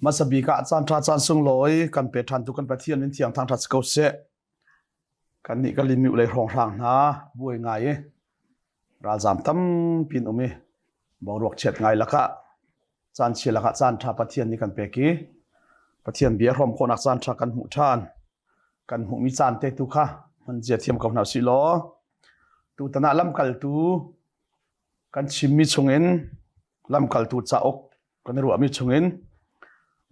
Hmasabik ah caanṭha caan sunglawi kan pe ṭhan tu kan Pathian in thiang thangṭhat si ko seh. Kan nih ka lim i ulei hrawng hrang hna buai ngai i ralzam tampi in um i boruak chiat ngai lakah caan chia lakah caan ṭha Pathian nih kan pek i Pathian bia a hrawm khawhnak caan ṭha kan hmuh ṭhan kan hmuhmi caan te tu kha hman zia thiam ko hna si law tutan ah lamkaltu kan chimmi chungin lamkaltu cauk kan i ruahmi chungin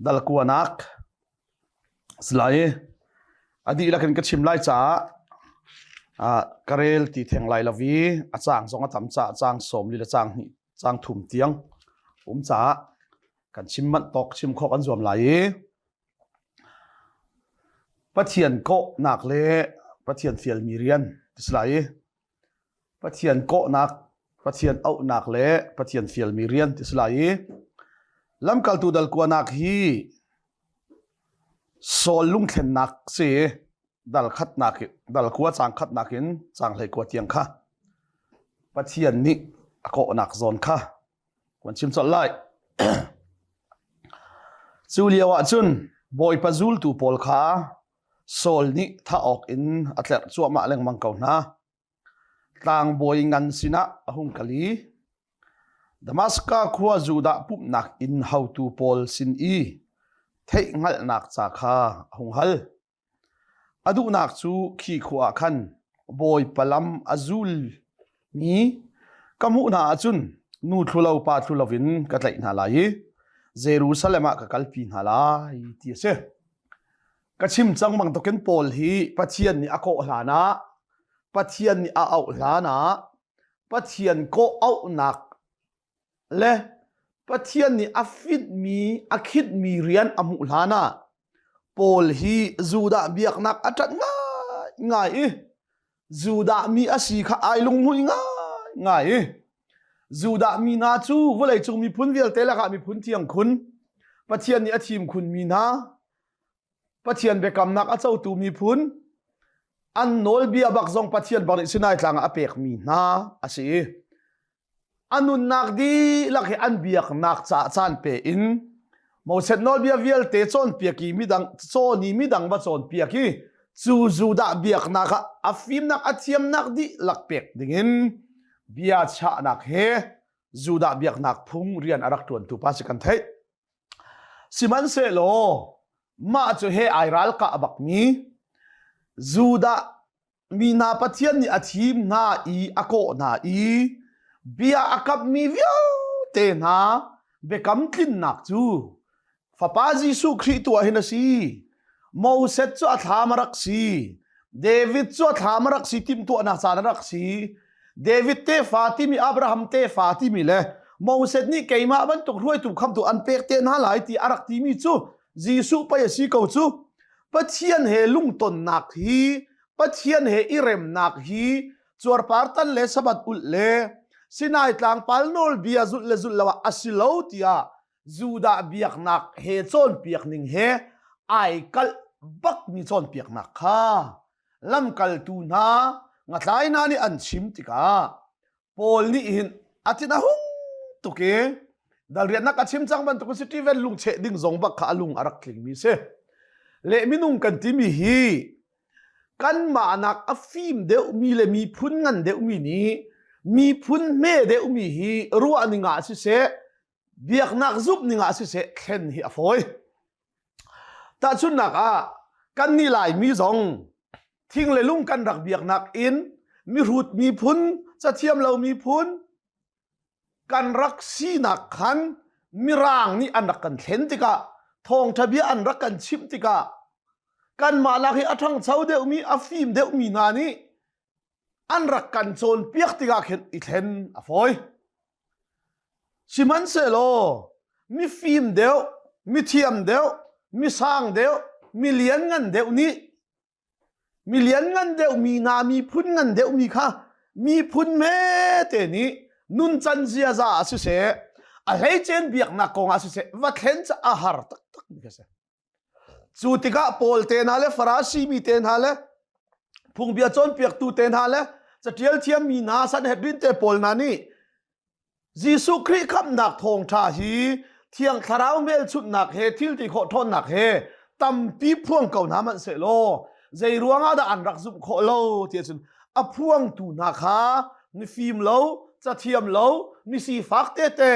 dal kuanak Salai, a dihlak in ka chim lai caah ka rel ti theng lai lo i a caang zong a tam caah caang sawm li le caang hnih, caang thum tiang um caah kan chim manh tawk, chim khawh kan zuam lai i Pathian kawhnak le Pathian fialmi rian ti si lai i Pathian kawhnak, Pathian auhnak le Pathian fialmi rian ti si lai i lamkaltu dalkuanak hi Saul lungthlennak si i dalkhatnak dalkua cangkhatnak in canghhlei kua tiang kha Pathian nih a kawhnak zawn kha kan chim colh lai. Cu lio ah cun Bawipa zultu pawl kha Saul nih thah awk in a tlerh cuahmah lengmang ko hna. Tlangbawi ngan sinah a hung kal i Damaska khua Judah pumhnak inn haotu pawl sin i theihhngalhnak ca kha a hung hal. A duhnak cu khi khua ah khan bawipa lam a zul mi ka hmuh hna ahcun nu thlulo pa thlulo in ka tlaih hna lai i Jerusalem ah ka kalpi hna lai ti a si. Ka chim cang bang tokin Paul hi Pathian nih a kawh hlan ah Pathian nih a auh hlan ah Pathian kawh auhnak le Pathian nih a fitmi a khitmi rian a hmuh hlan ah Paul hi Judah biaknak a ṭat ngaingai i Judah mi a si kha ai lunghmuih ngaingai i Judah mi hna cu vawleicung miphun vialte lakah miphun thiang khun Pathian nih a thim khunmi hna Pathian biakamnak a cotu miphun an nawlbia bak zong Pathian barih Sinai tlang ah a pekmi hna a si i a nunnak dihlak he an biaknak caah caan pe in Moses nawlbia vialte cawnpiak i midang cawn i midang va cawnpiak i cu Judah biaknak ah a fimnak a thiamnak dihlak pek dingin bia chahnak he Judah biaknak phung rian a rak ṭuantu pa si kan theih. Sihmanhsehlaw mah cu he ai ralkah a bakmi Judah mi hna Pathian nih a thim hna i a kawh hna i bia a kammi vialte hna biakam tlinnak cu fapa Jesuh Khrih tu ah hin a si Moses cu a thlam a rak si David cu a thlam a rak si timtuahnak caan a rak si David tefa timi Abraham tefa timi le Moses nih keimah bantuk hruaitu khamtu an pek te hna lai ti a rak timi cu Jesuh pei a si ko cu Pathian he lungtonnak hi Pathian he i remnak hi cuarpar tan le sabat ulh le Sinai tlang pal nawlbia zulh le zulh lo ah a si lo tiah Judah biaknak he cawnpiak ning he ai kalh bakmi cawnpiaknak kha lamkaltu hna ngathlai hna nih an chim tikah Paul nih hin a cin a hung tuk i dalriatnak a chim cang bantukin Stephen lungcheh ding zong bak kha a lung a rak tlingmi si. Le minung kan timi hi kanmah nak a fim deuhmi le miphun ngan deuhmi nih miphun hme deuhmi hi ruahning ah siseh biaknak zumh ning ah siseh thlen hi a fawi tahchunnak ah kan nih laimi zong thing le lung kan rak biaknak in mihrut miphun cathiam lo miphun kan rak sinak khan mirang nih an rak kan thlen tikah thawngtha bia an rak kan chimh tikah kan mah lak hi a ṭhangcho deuhmi a fim deuhmi hna nih an rak kan cawn piak tikah khin i thlen a fawi Sihmanhsehlaw mifim deuh, mithiam deuh, misang deuh, mi lianngan deuh nih mi lianngan deuhmi hna miphun ngan deuhmi kha miphun hmete nih nuncan ziaza ah siseh, a hleicein biaknak kongah siseh va thlen cu a har taktakmi khi a si. Cu tikah Paul te hna le Farasi mi te hna le phungbia cawnpiaktu te hna le catial thiammi hna sanhedrin te pawl hna nih Jesuh Khrih khamhnak thawngṭha hi thiang thlarau hmelchunhnak he thil ti khawh ṭhawnnak he tampi phuang ko hna hmanh seh law zei ruangah dah an rak zumh khawh lo ti cun a phuangtu hna kha ni fim lo cathiam lo ni sifak tete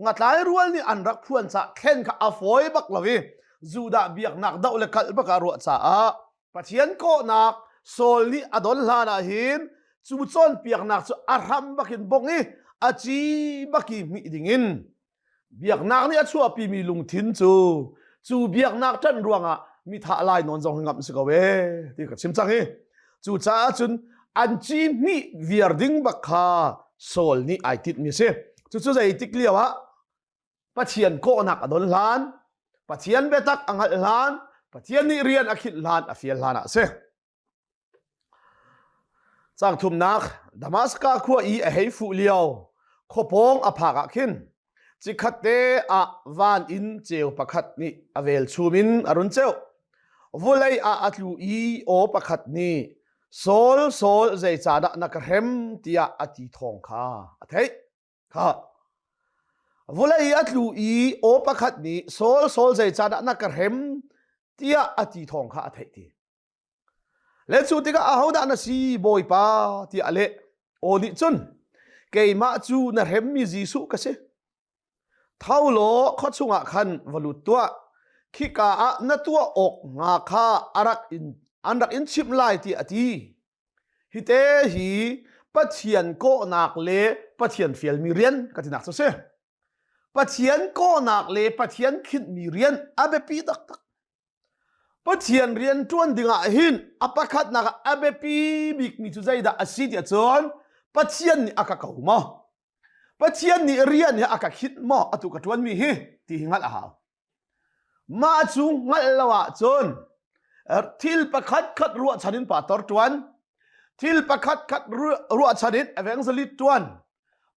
ngatlai rual nih an rak phuan ca thlen kha a fawi bak lo i Judah biaknak doh le kalh bak a ruah caah Pathian kawhnak Saul nih a don hlan ah hin cu cawn piaknak cu a hram bakin bong i a ci baki hmih ding in Biaknak nih a chuahpimi lungthin cu cu biaknak ṭanh ruangah mithah lai nawn zong ngamh si ko ee ti ka chim cang hi. Cucaah cun an ci hnih viar ding bak kha Saul nih ai titmi a si. Cucu zeitik lio ah Pathian kawhnak a don hlan, Pathian biatak a hngalh hlan, Pathian nih rian a khinh hlan a fial hlan ah a si. Cang thumnak Damaska khua i a hei fuh lio khuapawng a phak ah khin cikhat te ah van in ceu pakhat nih a velchum in a run ceuh. Vulei ah a tlu i aw pakhat nih Saul, Saul, zeicahdah na ka hrem tiah a ti thawng kha a theih. Kha vulei a tlu i aw pakhat nih Saul, Saul, zeicahdah na ka hrem tiah a ti thawng kha a theih ti. Le cu tikah ahodah na si Bawipa tiah a leh. Aw nih cun keimah cu na hremmi Jesuh ka si. Tho law khua chungah khan va lut tuah. Khika ah na tuah awk hnga kha a rak in, an rak in chimh lai tiah a ti. Hite hi Pathian kawhnak le Pathian fialmi rian ka tinak cu si. Pathian kawhnak le Pathian khinhmi rian a biapi taktak. Pathian rian ṭuan dingah hin a pakhatnak ah a biapi bikmi cu zeidah a si ti ahcun Pathian nih a ka ko maw? Pathian nih rian hi a ka khinh maw atu ka ṭuanmi hi ti hi hngalh a hau. Mah cu hngalh lo ahcun thil pakhatkhat ruahchan in pa tor ṭuan, thil pakhatkhat ruahchan in evangelist ṭuan,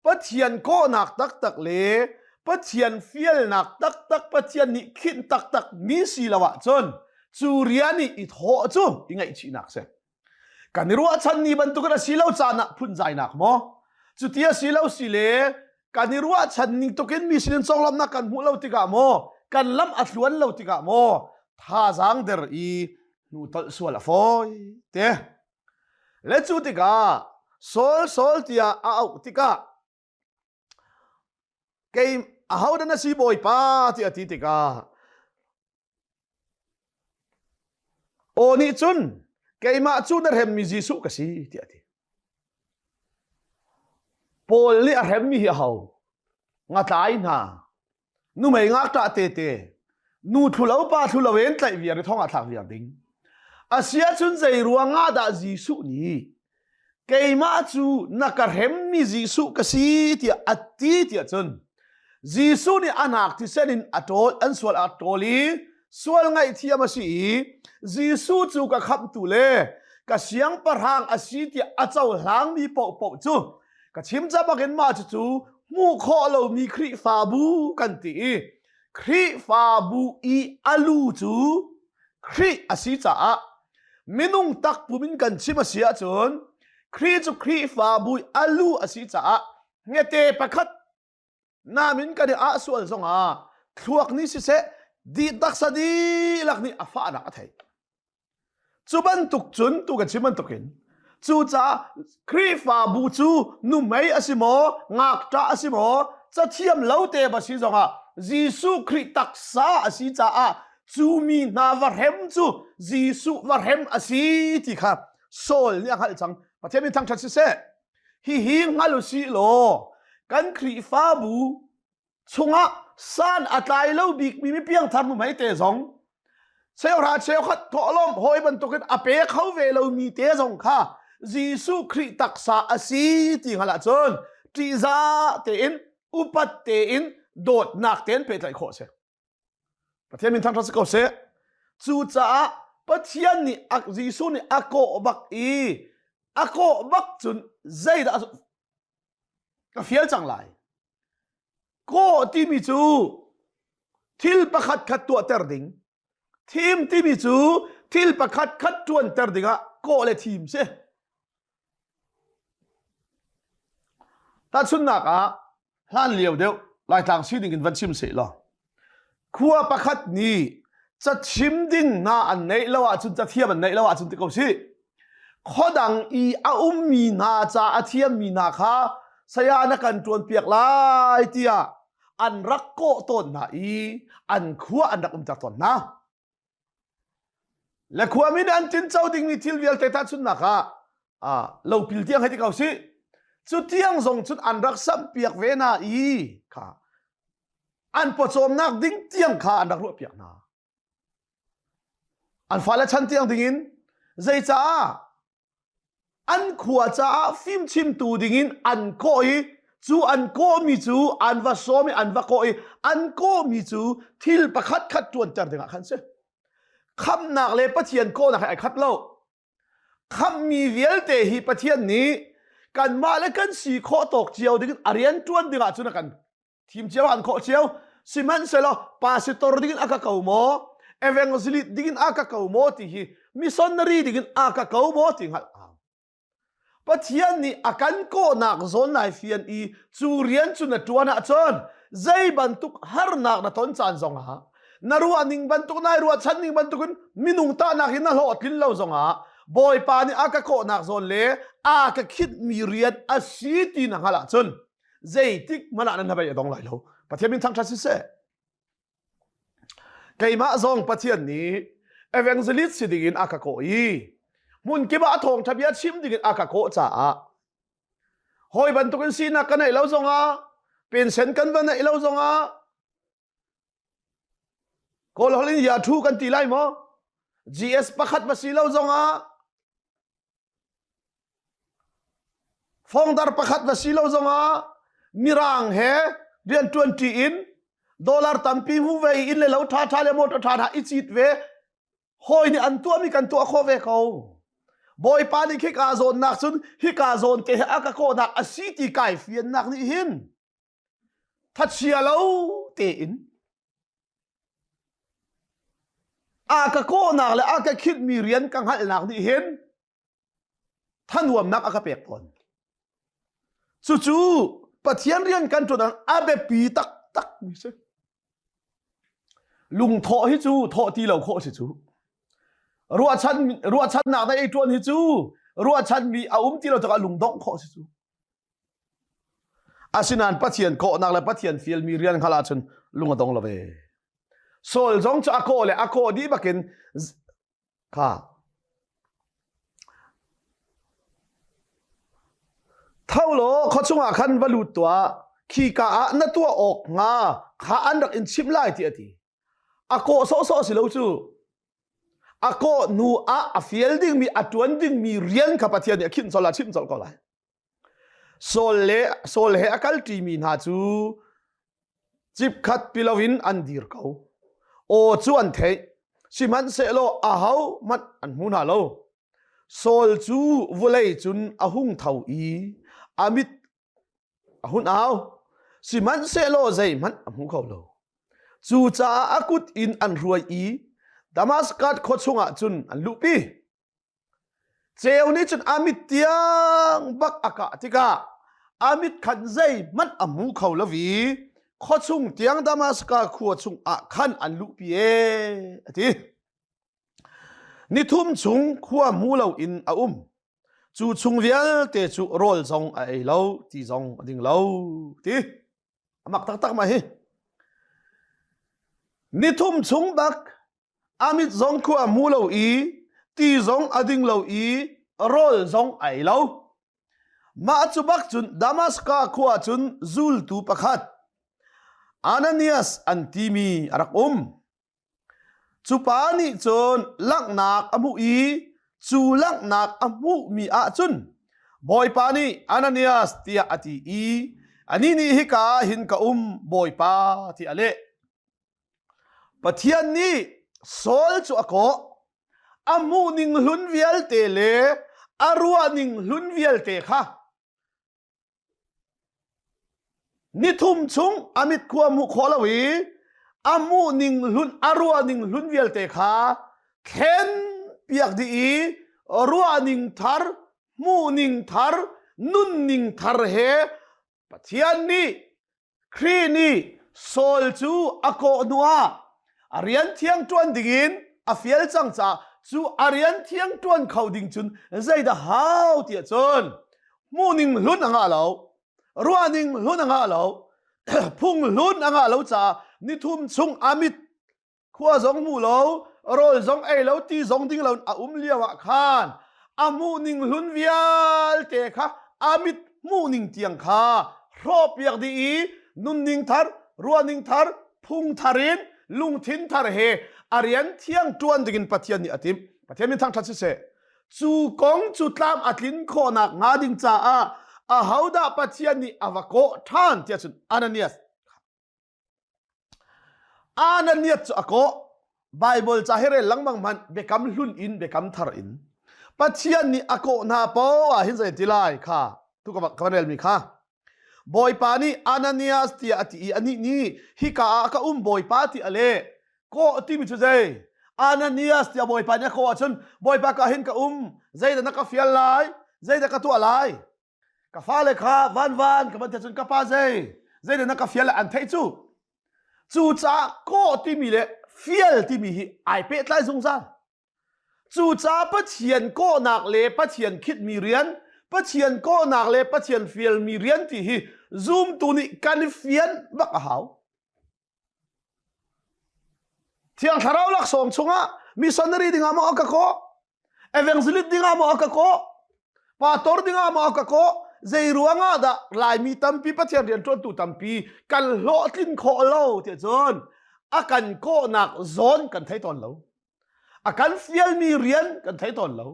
Pathian kawhnak taktak le Pathian fialnak taktak Pathian nih khinh taktak mi si lo ahcun cu rian i i thawh cu i ngaihchihnak si kan i ruahchan ni bantukin a si lo caan ah phunzainak maw cuti a si lo si le kan i ruahchan ning tukin mi sinin conglawmhnak kan hmuh lo tikah maw kan lam a thluan lo tikah maw thazaang der i hnu tolh sual a fawi te Le cu tikah Saul Saul tiah a auh tikah kei ahodah na si bawipa ti a ti tikah aw nih cun keimah cu na hremmi Jesuh ka si ti a ti Paul nih a hremmi hi a ho ngatlai hna Numei ngakṭah tete nu thlulo pa thlulo in tlaih viar i thong ah thlak viar ding. Asia chun zei ruangah dah Jesuh nih keimah cu na ka hremmi Jesuh ka si tiah a ti tiah cun Jesuh nih a nak thisen in a ṭawl an sual a ṭawl i sual ngaihthiam a si i Jesuh cu ka khamhtu le ka siangpahrang a si tiah a cohlangmi paohpaoh cu ka chim ca bakin mah cucu hmuh khawh lomi Khrihfabu kan ti i Khrihfabu i a lu cu Khrih a si caah minung takpum in kan chim a si ahcun Khrih cu Khrihfabu i a lu a si caah ngete pakhat namin kan i ah sual zongah thluak nih siseh di taksa dihlak nih a fahnak a thei cu bantuk cun tu kan chim bantukin cucaah Khrihfabu cu numei a si maw ngakṭah a si maw cathiam lo te ba si zongah Jesuh Khrih taksa a si caah cu mi hna va hrem cu Jesuh va hrem a si ti kha Saul nih a hngalh cang Pathian min thangṭhat siseh Hihi hngal u sih law kan Khrihfabu chungah san a tlai lo bikmi mi piangthar nuhmei te zong cheuhra cheukhat thawhlawm hawi bantukin a pe kho ve lomi te zong kha Jesuh Khrih taksa a si ti hngal ahcun ṭihza tein upat tein dawtnak tein pehtlaih khawh a si. Pathian min thangṭhat si ko seh. Cucaah Pathian nih Jesuh nih a kawh bak i a kawh bak cun zeidah ka fial cang lai. Kawh timi cu thil pakhat khat tuahter ding. Thim timi cu thil pakhat khat ṭuanter dingah kawh le thim si. Tahchunhnak ah, hlanlio deuh Laitlang sining in van chim sehlaw, khua pakhat nih cachim ding hna an neih lo ahcun, cathiam an neih lo ahcun ti ko si. Khuadang i a ummi hna ca, a thiammi hna kha saya na kan ṭuanpiak lai tiah an rak kawh tawn hna i an khua an rak umter tawn hna. Le khuami nih an tinco dingmi thil vialte tahchunhnak ah ah lopil tiang hei ti ko sih cu tiang zong cun an rak samhpiak ve hna i kha an pawcawmnak ding tiang kha an rak ruahpiak hna an fale chan tiang dingin zeicaah An khua caah fimchimtu dingin an kawh i cu an kawhmi cu an va sawm i an va kawh i an kawhmi cu thil pakhat khat ṭuanter dingah khan si. Khamhnak le Pathian kawhnak he ai khat lo. Khamhmi vialte hi Pathian nih kanmah le kan si khawh tawk cio dingin a rian ṭuan dingah cun a kan thim cio an khawh cio sihmanhsehlaw pastor dingin a ka ko maw evangelist dingin a ka ko maw ti hi missionary dingin a ka ko maw ti ngal au pathian nih a kan kawhnak zawn nai fian i cu rian cu na tuan ahcun zei bantuk harnak na ton caan zongah na ruah ning bantuk nai ruahchan ning bantukin minung tahnak hi na hlawh tlin lo zongah bawipa nih a ka kawhnak zawn le a ka khit mi rian a si ti na hngal ahcun zeitik manah nan hnabei a dong lai lo pathian min thangthat siseh keimah zong pathian nih evangelist si dingin a ka kawh i hmun kima a thawng thabia chim dingin a ka kawh caah hoi bantukin sinak ka neih lo zongah pinsen kan va neih lo zongah Kawl holh in Yahoo kan ti lai maw? GS pakhat ma si lo zongah fongdar pakhat va si lo zongah mirang he rian tuanṭi in dollar tampi hu ve in le lo ṭha ṭha le motor ṭha ṭha i cit ve hawi nih an tuahmi kan tuah khawh ve ko bawipa nih khika zawn nak cun hika zawn te he a ka kawhnak a si ti kai fiannak nih hin Thachia lo tein a ka kawhnak le a ka khitmi rian ka hngalhnak nih hin thanuamnak a ka pek tawn. Cucu Pathian rian kan ṭuan a biapi taktak mi si. Lungthawh hi cu thawh ti lo khawh si cu. Ruahchan ruahchannak dai i ṭuan hi cu ruahchan mi a um ti lo cakah lungdongh khawh si cu. Asinain Pathian kawhnak le Pathian fialmi rian hngal ahcun lung a dong lo ve. Saul zong cu a kawh le a kawh dih bakin kha tho law khua chungah khan va lut tuah khi ka ah na tuah awk hnga kha an rak in chimh lai ti a ti a kawh sawhsawh si lo cu a kawh hnu ah a fial dingmi a tuan dingmi rian kha Pathian nih a khinh colh a chimh colh ko lai Saul le Saul he a kalṭi mi hna cu cipkhat ti loin an dir ko. Aw cu an theih, sihmanhsehlaw ahohmanh an hmu hna lo. Saul cu vawlei cun a hung tho i a mit a hun au, sihmanhsehlaw zeihmanh a hmu kho lo. Cucaah a kut in an hruai i Damaskas khua chungah cun an luhpi. Ceu nih cun a mit tiang bak a kah tikah a mit khan zeihmanh a hmu kho lo i khuachung tiang Damaska khua chung ah khan an luhpi e a ti. Ni thum chung khua hmu loin a um. Cu chung vialte cu rawl zong a ei lo ti zong a ding lo ti. a mak taktak mai hi ni thum chung dak amit zong khu a mu lo i ti zong a ding lo i rawl zong ai lo mah cu bak cun damaska khua cun zultu pakhat Ananias an timi a rak um Cupa nih cun langhnak a hmuh i cu langhnak a hmuhmi ah cun Bawipa nih Ananias tiah a ti i anih nih hika hin ka um Bawipa tiah a leh. Pathian nih Saul cu a kawh a hmuh ning hlun vialte le a ruah ning hlun vialte kha Ni thum chung a mit khua a hmuh khawh lo i a hmuh ning hlun a ruah ning hlun vialte kha thlen piak dih i ruah ning thar hmuh ning thar nunning thar he Pathian nih Khrih nih Saul cu a kawh hnuah a rian thiang ṭuan dingin a fial cang caah cu a rian thiang ṭuan kho ding cun zeidah hau tiah cun hmuhning hlun a ngah lo, ruahning hlun a ngah lo, phung hlun a ngah lo caah nithum chung a mit khua zong hmu lo rawl zong ei lo ti zong ding lo a um lio ah khan a hmuh ning hlun vialte kha a mit hmuh ning tiang kha hrawpiak dih i nunning thar ruahning thar phung thar in lungthin thar he a rian thiang tuan dingin pathian nih a tim pathian min thang that si se cu kong cu tlam a tlin khawnak hnga ding caah ahodah pathian nih a va kawh than tia cun ananias Ananias cu a kawh Baibal ca hi rel lengmang hmanh biakam hlun in biakam thar in Pathian nih a kawh hna poah hin zei ti lai kha tu ka van relmi kha Bawipa nih Ananias tiah a ti i anih nih hika ah ka um Bawipa ti a leh kawh timi cu zei Ananias tiah Bawipa nih a kawh ahcun Bawipa ka hin ka um zeidah na ka fial lai zeidah ka tuah lai ka fale kha vanvan ka van te cun ka pa zei zeidah na ka fial an theih cu cu caah kawh timi le fial timi hi ai pehtlai zungzal cucaah pathian kawhnak le pathian khitmi rian pathian kawhnak le pathian fialmi rian ti hi zumtu nih kan i fian bak a hau Thiang thlarau laksawng chungah missionary dingah maw ka kawh evangelist dingah maw ka kawh pastor dingah maw ka kawh zei ruangah dah laimi tampi pathian rian ṭuantu tampi kan hlawhtlin khawh lo ti cun a kan kawhnak zawn kan thei tawn lo a kan fialmi rian kan thei tawn lo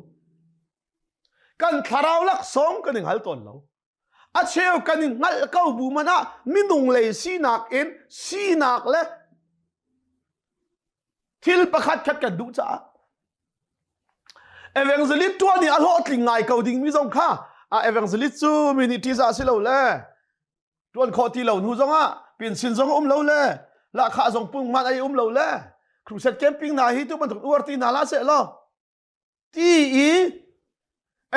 kan thlarau laksawng kan i hngal tawn lo A cheu kan in hngalh ko bu man ah minung lei sinak in sinak le thil pakhatkhat kan duh caah evangelist tuan nih a hlawhtling ngai ko ding mi zong kha a evangelist cu minitis ah si lo le tuan khawh ti lo hnu zong ah pinsin zong um lo le lahkhah zong pung man ai um lo le crusade camping hna hi tu bantuk uar ti hna la se law ti i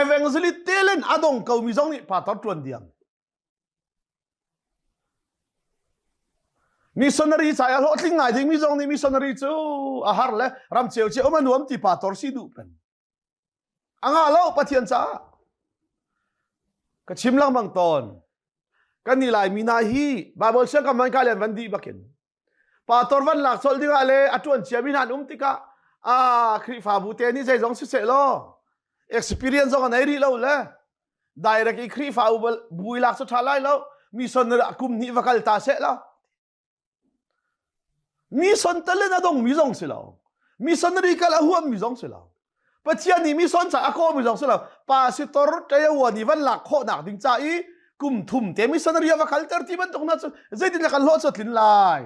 evangelist telen a dong komi zong nih pastor ṭuan diam missionary ca i a hlawhtling ngai dingmi zong nih missionary cu a har le ramcheu ci um a nuam ti pastor si duh pen anga lo pathian caah ka chim lengmang tawn kan ni lai mi na hi bible siangkam man ka lian van di bakin Pator van lak solh dingah le a tuan ciami hna an um tikah a Khrihfabu te nih zeizong siseh law experience zong a nei rih lo le direct i Khrihfabu bui lak cu tha lai lo mission a kum hnih va kal ta seh la mission talent a dongmi zong si lo missionary kal a huammi zong si lo Pathian nih mi son ca a kaw mi zong si lo pa si tor ṭeyawan i van lak khawh nak ding ca i kum thum te missionary va kal ter ti bantuk na cu zeitin le kan hlawh cu tlin lai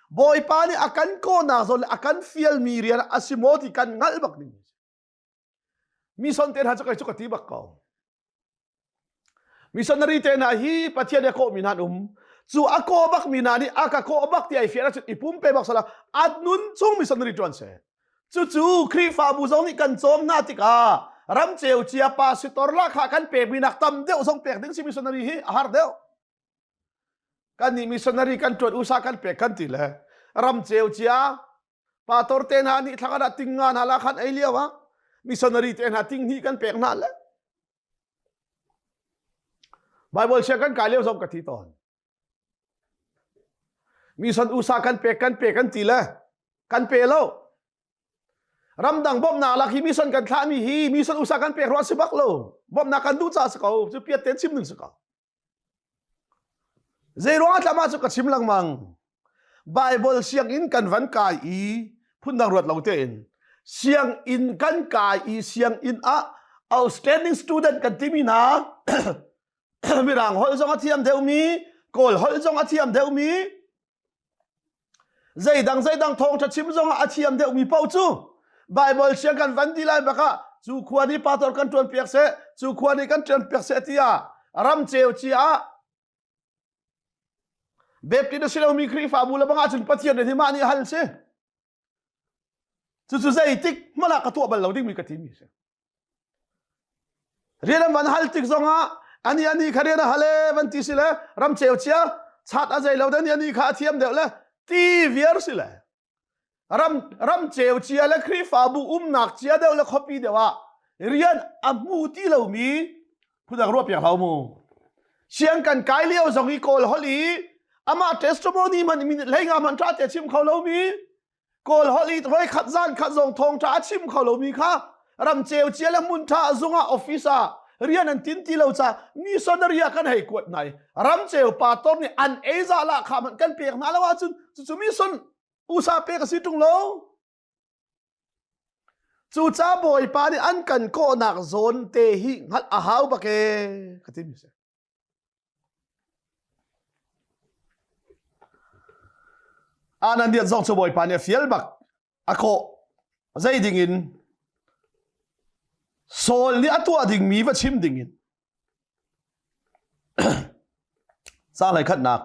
bawipa nih a kan kaw nak zong le a kan fial mi rian a si maw ti kan ngalh bak ning mi son te hna cu kai cu ka ti bak ko missionary te hna hi pathian i a kawhmi hna an um cu a kaw bak mi hna nih a ka kaw bak ti ai fiara cun i pumpe bak sala at nun chung missionary tuan se cucu khrihfabu zong nih kan cawm hna tikah ram ceu cia pa sitor la kha kan pek mi nak tam deuh zong pek ding si missionary hi a har deuh kan nih missionary kan tuan usa kan pek kan ti le ram ceu cia pa tor te hna nih thlang ah ting nga hna la khan ei lio ah missionary te hna ting hni kan pek hna le bible sia kan kai lio zong ka thi ton mission usa kan pek kan pe kan ti le kan pe lo ramdang bom na lak hi mission kan thlah mi hi mission usa kan pek ruah si bak lo bom na kan du cha si ko chu piat ten chim ning si ko Zeiruang ah tlah mah cu ka chim lengmang. Baibal sianginn kan van kai i phundang ruat lo tein sianginn kan kai i sianginn ah outstanding student kan timi hna Mirang holh zong a thiam deuhmi, Kawl holh zong a thiam deuhmi, Zeidang zeidang thawngṭha chim zongah a thiam deuhmi paoh cu Baibal siang kan van ti lai bak ah cu khua nih pastor kan ṭuan piak seh cu khua nih kan ṭuan piak seh tiah ram ceu ci ah Baptist na si lomi Khrihfabu le bang ahcun Pathian nih mah nih hal si Cucu zeitik hmanh ah ka tuah bal lo dingmi ka timi a si. Rian an van hal tik zongah ani ani kha rian a hal e van ti si le ram ceu chia chat a zei lo dan ani kha a thiam deuh le ti viar si le ram ram ceu chia le Khrihfabu umnak cia deuh le khuapi deuh ah rian a hmu ti lomi phudang ruah piak hau mu siang kan kai leo zong i kawl hol i ama testimony man minute lenga man tra te chim kho lo mi kawl hol i roi khat zan khat zong thong tra chim kho lo mi kha ram cheu chia le mun tha zunga office a rian an tin ti lo cha missionary a kan hei kuat nai ram cheu pa tom ni an eiza la kha man kan pek na lawa chun chu chu mission usa pe ka si tung lo Cucaah Bawipa nih an kan kawhnak zawn te hi hngalh a hau bak e ka timi si. Anan diat zong cu Bawipa nih a fial bak a kawh zei ding in Saul nih a tuah dingmi va chim ding in Caanlei khatnak,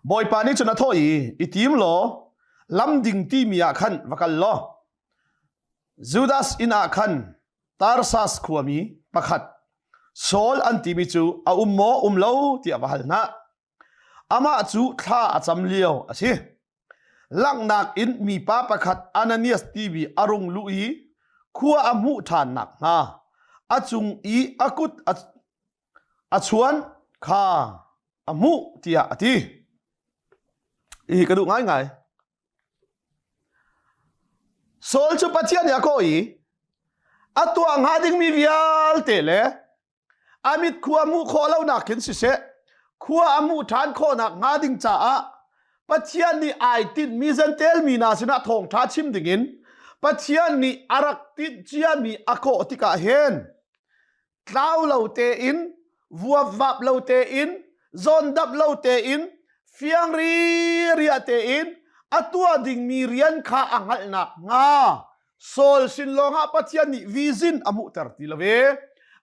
Bawipa nih cun a thawh i, i tim law lam ding timi ah khan va kal law Judas inn ah khan Tarsas khuami pakhat Saul an timi cu a um maw um lo tiah va hal hna. Amah cu thla a cam lio a si. Langhnak in mipa pakhat Ananias tivi a rung luh i khua a hmuh ṭhan nakhnga a cung i a kut a, a chuan kha a hmuh tiah a ti. Hi ka duh ngaingai. Saul cu Pathian nih a kaw i a tuah hnga dingmi vialte le a mit khua a hmuh khawh lonak khin siseh khua a hmuh ṭhan khawhnak hnga ding caah Pathian nih ai tinhmi zantel mi hna sinah thawngṭha chim dingin Pathian nih a rak tinh ciami a kawh tikah hin tlau lo tein vuapvap lo tein zondap lo tein fiang ri ria tein a tuah dingmi rian kha a hngalh nak hnga Saul sin lawngah Pathian nih vizin a hmuhter ti lo ve.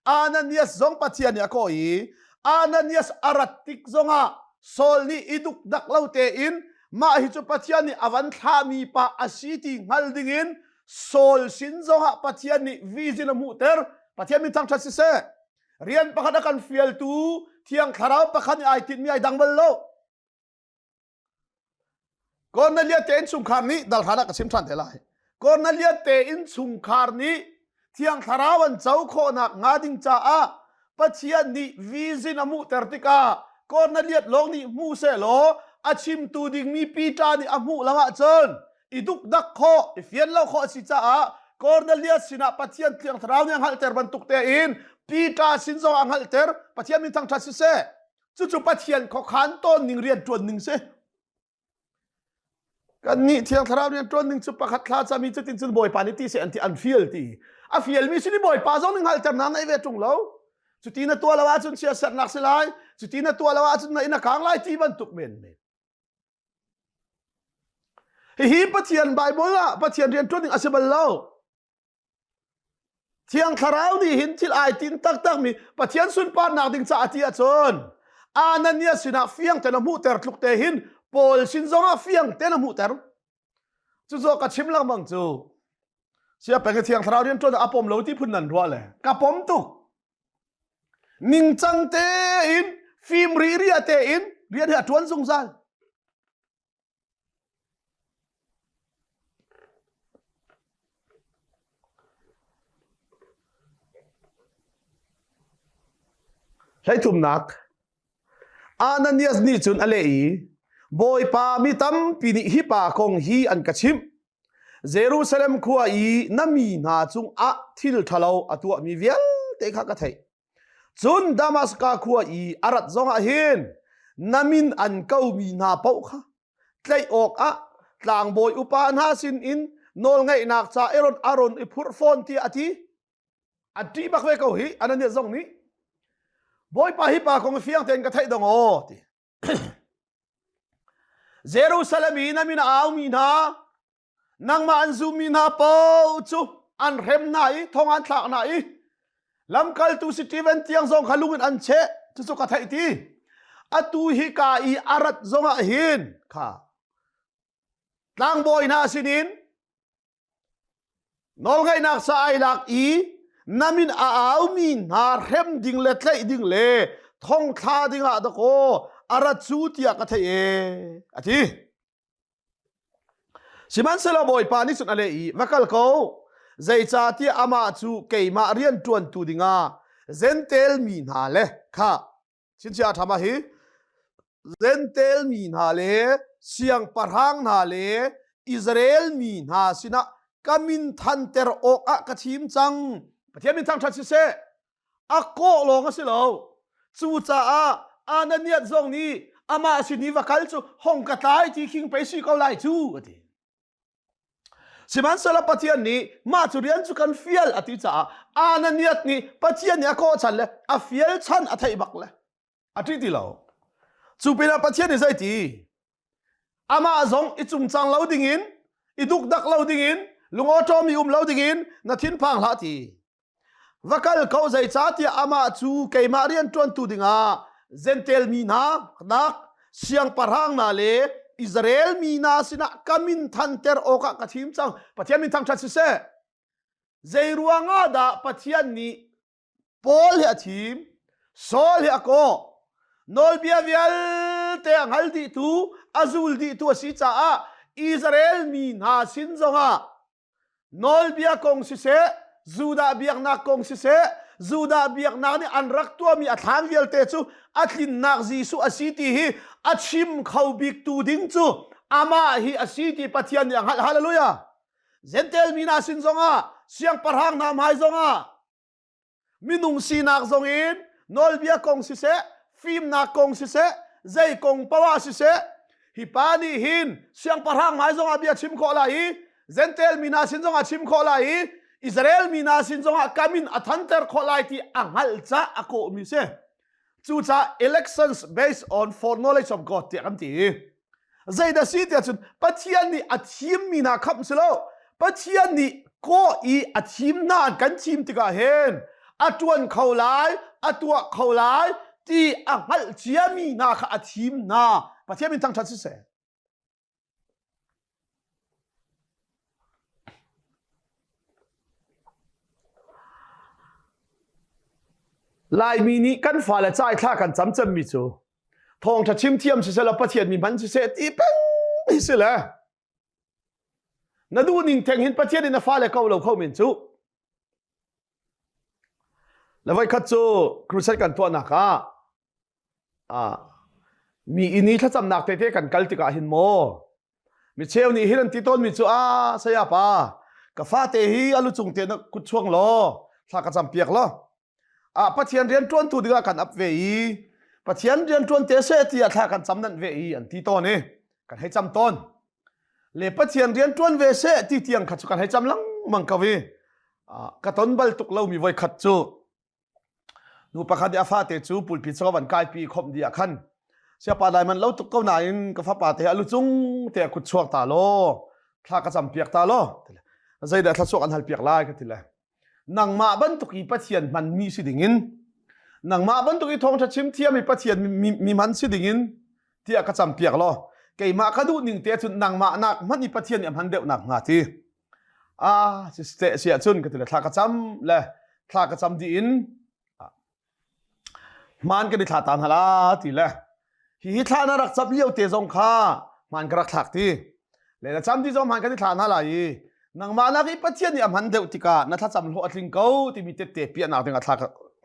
Ananias zong Pathian nih a kawh i Ananias a rat tik zongah Saul nih i dukdak lo tein mah hi cu Pathian nih a van thlahmi pa a si ti hngal dingin Saul sin zongah Pathian nih vizin a hmuhter. Pathian min thangṭhat siseh. Rian pakhat a kan fialtu Thiang Thlarau pakhat nih ai tinhmi ai dang bal lo. Cornelia te innchungkhar nih darhlan ah ka chim ṭhan te lai. Cornelia te innchungkhar nih Thiang Thlarau an co khawhnak hnga ding caah Pathian nih vision a hmuhter tikah Corneliat lawng nih hmu seh law a chimtu dingmi Peter nih a hmuh lo ahcun i dukdak khawh i fian lo khawh a si caah Cornelius sinah Pathian Thiang Thlarau nih a hngalhter bantuk tein Peter sin zong a hngalhter Pathian min thangṭhat siseh cucu pathian khuakhan ton ning rian tuan ning si kan nih thiang thlarau rian tuan ning cu pakhat thla chami cu tin cun bawipa nih ti se an ti an feel ti a feel mi si ni bawipa zong ning hal terna nei ve tung lo cuti na tua lo ahcun sia sernak si lai cuti na tua lo ahcun na in a kang lai ti bantuk men men hihi pathian bible ah pathian rian tuan ning a si bal lo Thiang Thlarau nih hin thil ai tin taktakmi Pathian sunparnak ding caah ti ahcun Ananias sinah fiang tein a hmuhter tluk te hin Paul sin zongah fiang tein a hmuhter. Cu zo ka chim lengmang cu sia peng thiang thlarau rian tuan a pom lo ti phun nan ruah le ka pom tuk ningcang tein fim ri ria tein rian hi a tuan zungzal Hleithumnak Ananias nih cun a leh i, Bawipa mi tampi nih hi pa kong hi an ka chimh. Jerusalem khua i na mi hna cungah thil ṭhalo a tuahmi vialte kha ka theih. Cun Damaska khua i a rat zongah hin na min an komi hna paoh kha tlaih awkah tlangbawi upa hna sinin nawlngaihnak ca i ron aron i phurh fawn tiah a ti. A ṭih bak ve ko hi Ananias zong nih. Bawipa hi pa kong hi fiang tein ka theih dong aw ti. Jerusalem i na min a aumi hna, nangmah an zummi hna paoh cu an hrem hna i thong an thlak hna i lamkaltu Steven tiang zong kha lung in an cheh cucu ka theih ti atu hi ka i a rat zongah hin kha tlangbawi hna sinin Nawlngaihnak sa ai lak i na min a aumi hna hrem ding le tlaih ding le thongthla dingah dakaw a rat cu tiah ka theih e a ti. Sihmanhsehlaw Bawipa nih cun a leh i va kal ko zeicahtiah amah cu keimah rian ṭuantu dingah zentel mi hna le kha Chinchia thama hi Zentel mi hna le siangpahrang hna le Israel mi hna sinah ka min thanter awk ah ka thim cang. Pathian min thangṭhat si seh. A kawh lawng a si lo. Cucaah Ananias zong nih amah sin i va kal cu hong ka tlai ti khing pei si ko lai cu a ti. Sihmanhsehlaw Pathian nih mah cu rian cu kan fial a ti caah Ananias nih Pathian nih a kawhchan le a fial chan a theih bak le a ṭih ti lo. Cu pinah Pathian nih zei ti? Amah zong i cumcang lo dingin, i dukdak lo dingin, lungawṭawmi um lo dingin na thinphang hlah ti. Va kal ko zeicahtiah amah cu keimah rianṭuantu dingah Zentail mi hna dak siangpahrang hna le Israel mi hna sinah ka min thanter awkah ka thim cang. Pathian min thangṭhat siseh. Zei ruangah dah Pathian nih Paul hi a thim, Saul hi a kawh, nawlbia vialte a hngal dihtu, a zul dihtu a si caah Israel mi hna sin zongah nawlbia kong siseh Judah biaknak kong siseh Judah biaknak nih an rak tuahmi a thlan vialte cu a tlinnak Jesuh a si ti hi a chim kho bik tu ding cu amah hi a si ti Pathian nih a hngalh hallelujah Gentel mi hna sin zongah siangpahrang hna hmai zongah Minung sinak zong in nawlbia kong siseh, fimnak kong siseh, zei kong poah siseh, hi pa nih hin siangpahrang hmai zongah bia chim khawh lai i Zentail mi hna sin zongah chim khawh lai i Israel mi hna sin zongah kam in a thanter khawh lai ti a hngalh ca a kawhmi si. Cucah elections based on for knowledge of God tiah kan ti. Zeidah si tiah cun Pathian nih a thimmi hna kham si lo. Pathian nih kaw i a thim hna kan thim tikah hin a tuan kho lai, a tuah kho lai ti a hngalh ciami hna kha a thim hna. Pathian min thangṭhat si seh. Laimi nih kan fale caithla kan cam cemmi cu thawngṭha chim thiam siseh law Pathian mi hman siseh ti peng si le na duh ning theng hin Pathian in na fale ko lo kho men cu la voikhat cu crusade kan tuahnak ah Mi inn i thlacamnak tete kan kal tikah hin maw micheu nih hin an ti tawnmi cu a sayapa ka fate hi a lucung te na kut chuang law thla ka cam piak law ah pathian rian ṭuantu dingah kan ap ve i pathian rian ṭuan te seh tiah thla kan cam nanh ve i an ti tawn i kan hei cam tawn le pathian rian ṭuan ve seh ti tiang kha cu kan hei cam lengmang ko i ka ton bal tuk lomi voi khat cu nu pakhat i a fate cu pulpit sa van kaipi khom di ah khan siapa dai man lo tuk ko nain ka fapa te a lucung te a kut chuak ta law thla ka cam piak ta law zeidah thlasuk an hal piak lai ka ti le nangmah bantuk i pathian man mi si dingin nangmah bantuk i thawngtha chim thiam i pathian mi man si dingin ti a ka cam piak law keimah ka duh ning te cun nangmah nak man i pathian i hman deuh nak hnga ti ah seh si ahcun ka tile thla ka cam le thla ka cam dih in hmaan kan i thla ta hna la ti le hi hi thla na rak cam lio te zong kha hmaan ka rak thlak ti le na cam ti zong hmaan kan i thla hna la i nangmah nak i pathian nih a hman deuh tikah na thlacam hlawh a tling ko timi tette piahnak dingah thla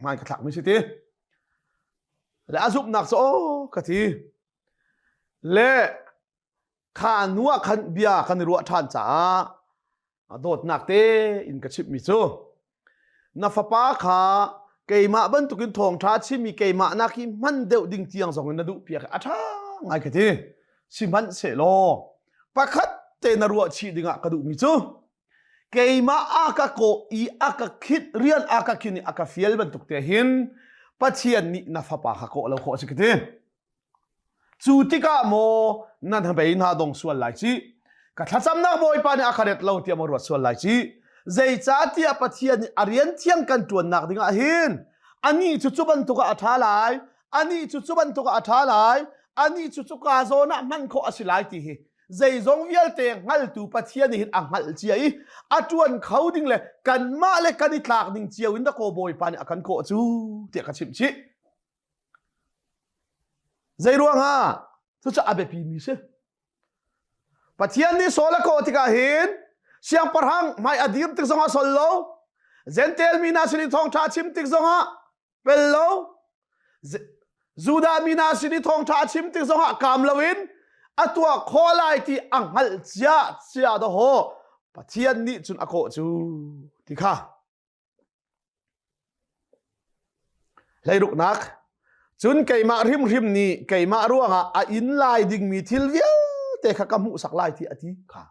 hmaan ka thlak mi si ti le a zumhnak cu aw ka ti le kha nu ah khan bia kan i ruah ṭhan caah a dawtnak te in ka chimhmi cu na fapa kha keimah bantukin thawngṭha chimmi keimah nak hi hman deuh ding tiang zongin na duh piak a ṭha ngai ka ti sihmanhsehlaw pakhat te na ruah chih dingah ka duhmi cu keimah a ka kawh i a ka khit rian a ka khin i a ka fial bantuk te hin pathian nih na fapa kha kawh lo khawh a si ka ti Cu tikah maw nan hnabei hna dong sual lai cih. Ka thlacamnak Bawipa nih a ka ret lo tiah maw ruat sual lai cih. Zeicahtiah Pathian nih a rian thiang kan ṭuannak dingah hin anih cu cu bantuk ah a ṭha lai, anih cu cu bantuk ah a ṭha lai, anih cu cuka zawn ah hman khawh a si lai ti hi zeizong vialte hngaltu Pathian nih hin a hngalh cia i a ṭuan kho ding le kanmah le kan i tlak ding cio in dakaw Bawipa nih a kan kawh cu tiah ka chimh chih. Zeiruangah? Cucaah a biapimi si. Pathian nih Saul a kawh tikah hin siangpahrang hmai a dir tik zongah sol lo, Zentail mi hna sin i thawngṭha chim tik zongah pel lo, Judah mi hna sin i thawngṭha chim tik zongah kam loin a tuah khawh lai ti a hngalh cia cia dawh. Pathian nih cun a kawh cu ti kha Hleiruknak, cun keimah hrimhrim nih keimah ruangah a in lai dingmi thil vialte kha ka hmuhsak lai tiah a ti kha.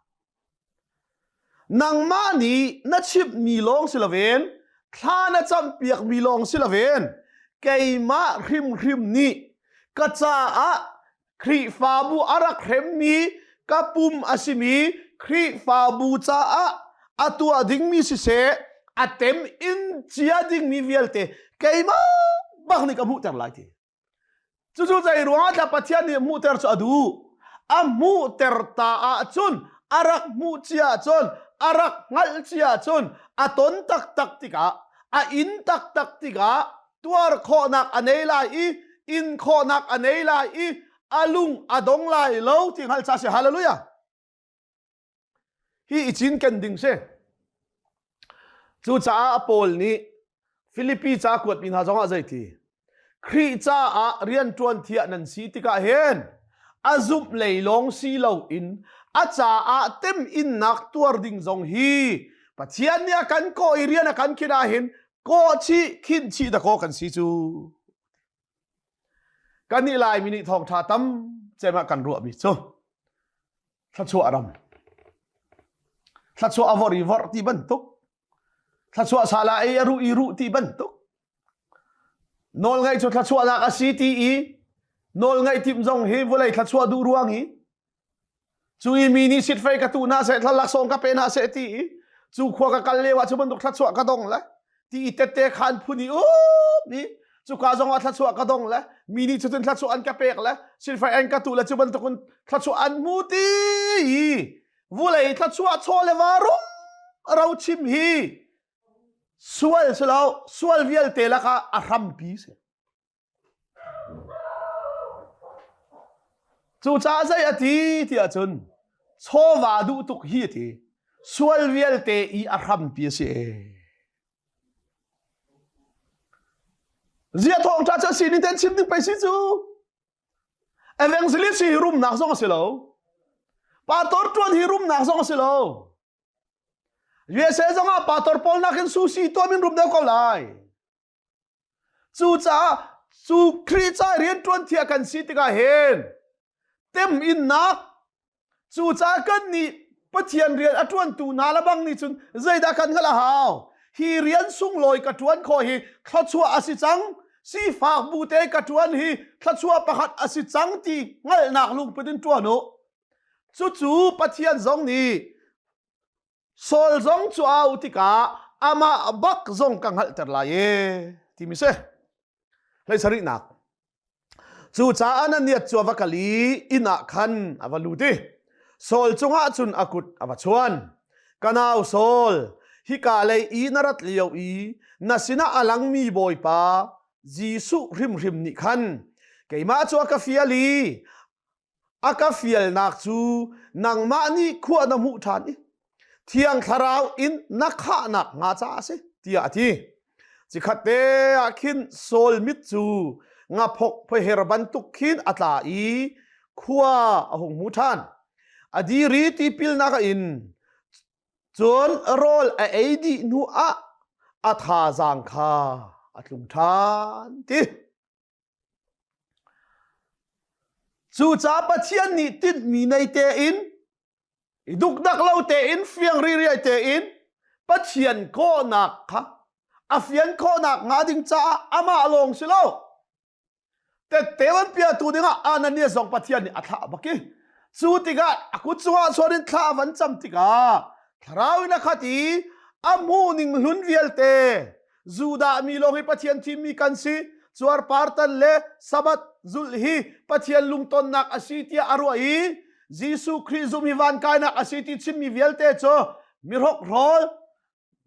Nangmah nih na chimhmi lawng si loin thla na campiakmi lawng si loin keimah hrimhrim nih ka caah Khrihfabu a rak hremmi ka pum a simi Khrihfabu caah a tuah dingmi siseh, a tem in cia dingmi vialte keimah bak nih ka hmuhter lai ti. Cucu zei ruangah dah Pathian nih hmuhter cu a duh? A hmuhter ta ahcun, a rak hmuh cia ahcun, a rak hngalh cia ahcun, a ton taktak tikah, a in taktak tikah, tuar khawhnak a nei lai i in khawhnak a nei lai i a lung a dong lai lo ti hngal cha si hallelujah hi i cin kan ding si cucaah a paul nih filipi ca kuatmi hna zongah zei ti khrih caah rianṭuan thiah nan si tikah hen a zumh lei lawng si lo in a caah tem innak tuar ding zong hi pathian nih a kan ko i rian a kan khina hin kawhchih khinhchih dakaw kan si cu kan nih laimi nih thawngtha tam cemah kan ruahmi cu thluachuah ram thluachuah a vor i vor ti bantuk thluachuah sala ei a ruh i ruh ti bantuk nawl ngaih cu thluachuahnak a si ti i nawl ngaih tim zong hi vawlei thluachuah duh ruang hi Cu i mi nih sit fei ka tu na seh, thlahlak sawng ka pe na seh ti i cu khua ka kal leu ah cu bantuk thluachuah ka dong le ti i tette khan phun i up ni cuka zong ah thluachuah ka dong le mi nih cucun thluachuah an ka pek le silfai an ka tu le cu bantuk in thluachuah an mu ti i vulei thluachuah chaw le varu ro chim hi sual si lo sual vialte lakah a hrampi si Cucaah zei a ti tiah cun chawva duh tuk hi a ti. Sual vialte i a hrampi a si e. Zia thawngṭa cu a si ning tein chim ding pei si cu. Evangelist hi rumnak zong a si lo. Pastor ṭuan hi rumnak zong a si lo. USA zong ah pastor pawl nakin susi tuam in rum deuh ko lai. Cucaah cu Khrih ca i rianṭuanthi a kan si tikah hin temhinnak cucaah kannih Pathian rian a ṭuantu hna lebang nih cun zeidah kan hngalh a hau? Hi rian sunglawi ka ṭuan khawh hi thluachuah a si cang. Sifak bu te ka ṭuan hi thluachuah pakhat a si cang ti hngalhnak lungput in ṭuan u. Cucu Pathian zong nih Saul zong cu a auh tikah amah bak zong ka hngalhter lai e timi si. Hlei sarihnak. Cucaah Ananias cu a va kal i inn ah khan a va lut i Saul cungah cun a kut a va chuan. Ka nau Saul, hika lei i na rat lio i na sinah a langmi Bawipa Jesuh hrimhrim nih khan keimah cu a ka fial i a ka fialnak cu nangmah nih khua na hmuh ṭhan i Thiang Thlarau in na khahnak hnga ca a si tiah a ti. Cikhatte ah khin Saul mit cu ngaphok phoher bantuk khin a tla i khua a hung hmu ṭhan. A diri tipilnak a in cun rawl a ei dih hnu ah a thazaang kha a tlung ṭhan ti. Cucaah Pathian nih tinhmi nei tein, i dukdak lo tein, fiang ririai tein Pathian kawhnak kha a fian khawhnak hnga ding caah amah lawng si lo. Tette an piatu dingah Ananias zong Pathian nih a thlah a bak i cu tikah a kut chungah chuan in thla a van cam tikah thlarau in a khat i a hmuh ning hlun vialte Judah mi lawng hi Pathian thimmi kan si cuar partan le Sabbath zulh hi Pathian lungtonnak a si tiah a ruah i Jesuh Khrih zum hi van kainak a si ti chimmi vialte cu mirok rol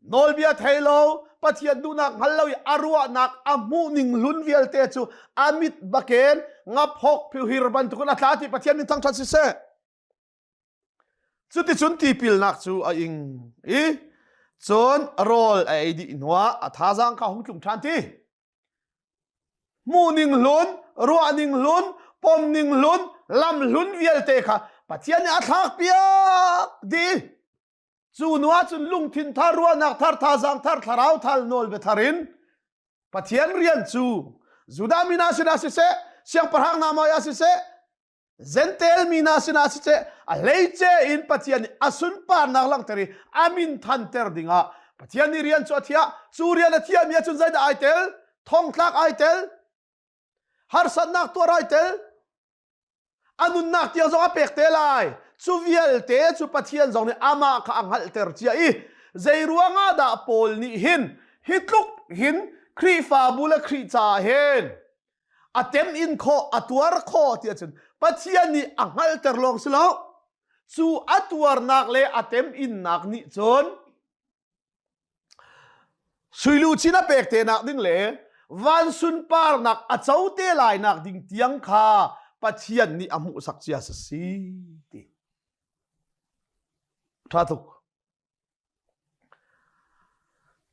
nawlbia thei lo Pathian duhnak hngal lo i a ruahnak a hmuhning hlun vialte cu amit baken ngaphok phiuhir bantukin a tla ti Pathian nih thangthat si seh Cuticun tipilnak cu a ing i cun rawl a ei dih hnuah a thazaang kha hung tlung ṭhan ti. Hmuhning hlun, ruahning hlun, pomning hlun, lamhlun vialte kha Pathian nih a thlakpiak dih. Cu hnuah cun lungthin thar, ruahnak thar, thazaang thar, thlarau thal nawl bia thar in Pathian rian cu Judah mi hna sinah siseh, siangpahrang hna maiah siseh, Zentail mi hna sinah siseh a hleice in Pathian nih a sunparnak langhter i a min thanter dingah Pathian nih rian cu a thiah cu rian a thiahmi ah cun zeidah ai tel thongtlak ai tel harsatnak tuar ai tel a nunnak tiang zong a pek te lai cu vialte cu Pathian zong nih amah kha a hngalhter cia i zei ruangah dah Paul nih hin hi tluk hin Khrihfabu le Khrih ca hen a tem in khawh a tuar khawh ti ahcun Pathian nih a hngalhter lawng si lo cu a tuarnak le a tem innak nih cun suiluchin a pek te nak ding le van sunparnak a co te lai nak ding tiang kha Pathian nih a hmuhsak cia si si ti tha tuk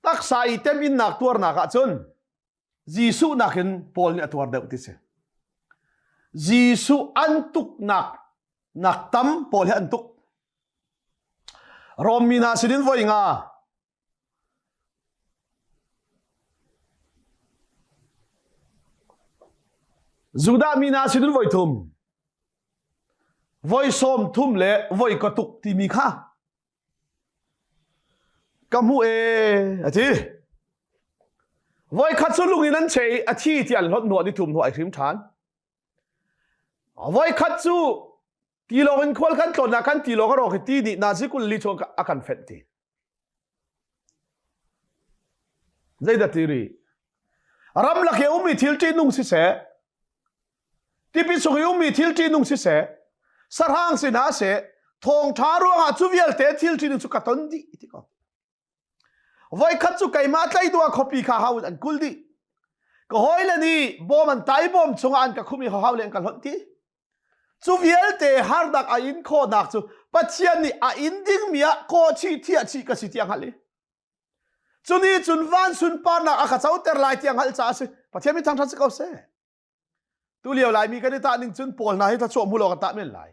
Taksa i temhinnak tuarnak ahcun Jesuh nakin Paul nih a tuar deuh ti si. Jesuh an tuknak nak tam Paul he an tuk. Rom mi hna sinin voi nga Judah mi hna sinin voi thum Voi sawm thum le voi ka tuk timi kha ka hmuh ee a ti. Voi khat cu lung in an che i a thi ti an hlot nu an i thum nu ai hrim ṭhan. Voi khat cu tilawng in khual kan tlon ah kan tilawng a rawk i ti nih nazi kul li chuan a kan fenh ti. Zeidah ti rih? Ramlak i ummi thil ṭihnung siseh, tipil chung i ummi thil ṭihnung siseh, sarhang sin ah seh, thawngṭha ruangah cu vialte thil ṭihnung cu ka ton dih ti ko. Voikhat cu keimah tleiduah khuapi kha hau an kul dih. Ka hawile nih bawm an tai bawm chungah an ka khum i hau le an ka hlonh ti. Cu vialte harnak a in khawhnak cu Pathian nih a in dingmi ah kawhchih thiahchih ka si tiah hngalh i cuni cun van sunparnak a ka coter lai tiang hngalh caah a si Pathian mi thangṭhat si ko seh tulio laimi kan i tah ning cun pawl hna hi thluachuah hmu law kan tah men lai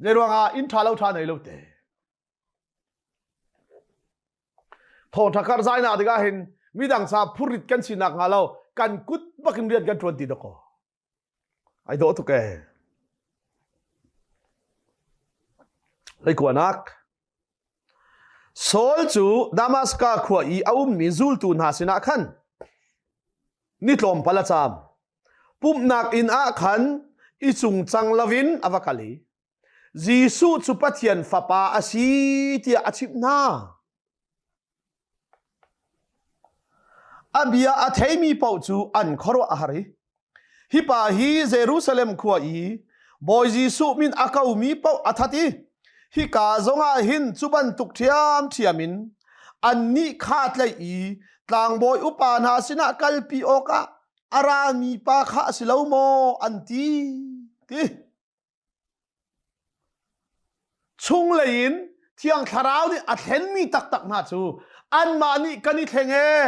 zei ruangah inn ṭha lo ṭha nei lo te thawngṭha kar zainak ding ah hin midang sa phurrit kan sinak hnga lo kan kut bakin rian kan ṭuan ti dakaw Ai dawh tuk ee. Hleikuanak Saul cu Damaska khua i a ummi zultu hna sinah khan ni tlawmpal a caam. Pumhnak inn ah khan i cungcang loin a va kal i Jesuh cu Pathian Fapa a si tiah a chimh hna. A bia a theimi paoh cu an khuaruah a har i hi pa hi Jerusalem khua i Bawi Jesuh min a komi paoh a that i hika zongah hin cu bantuk ṭhiamṭhiam in annih kha tlaih i tlangbawi upa hna sinah kalpi awkah a rami pa kha a si lo maw an ti? ti. Chunglei in Thiang Thlarau nih a thlenmi taktak hna cu anmah nih kan i thleng ee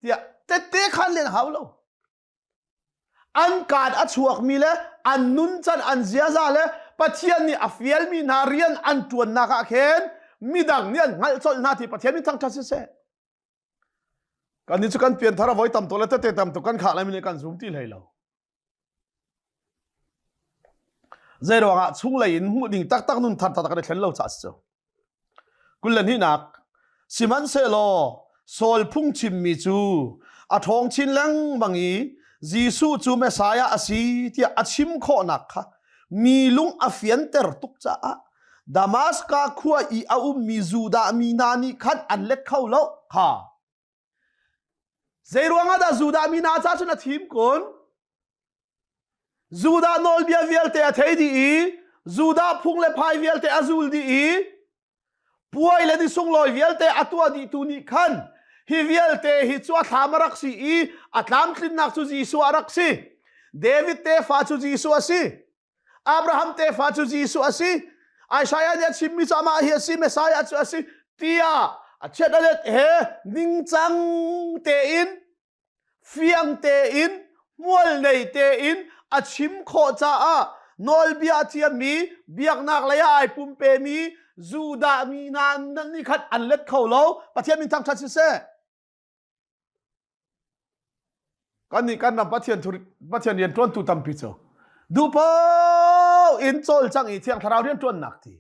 tiah tette khan len hau lo. An kaan a chuakmi le an nuncan an ziaza le Pathian nih a fialmi hna rian an ṭuannak ah khin midang nih an hngalh colh hna ti Pathian min thangṭhat siseh. kan nih cu kan pianthar a voi tam to le tete tam to kan khah lai min kan zum ti hlei lo zei ruangah chunglei in hmuh ding taktak nun thar tak kan i thlen lo ca si cu kullanihnak sihmanhsehlaw saul phungchim mi cu a ṭhawng chin lengmang i Jesuh cu Messiah a si tiah a chim khawhnak kha mi lung a fianter tuk caah Damaska khua i a ummi Judah mi hna nih khan an let kho lo kha. Zeiruangah dah Judah mi hna ca cun a thim kun? Judah nawlbia vialte a thei dih i Judah phung le phai vialte a zul dih i puai le ni sunglawi vialte a tuah dihtu nih khan hi vialte hi cu a thlam a rak si i a tlamtlinnak cu Jesuh a rak si. David tefa cu Jesuh a si. Abraham tefa cu Jesuh a si. Isaiah nih a chimmi cu amah hi a si, Messiah cu a si, tiah a chiat a let he ningcang tein, fiang tein, hmualnei tein a chim khawh caah nawlbia a ciami, biaknak lei ah ai pumpemi Judah mi hna nan ni khat an let kho lo. Pathian min thangṭhat siseh. kannih kan ram Pathian Pathian rianṭuantu tampi cu duhpoh in cawlcang i thiang thlarau rianṭuannak ti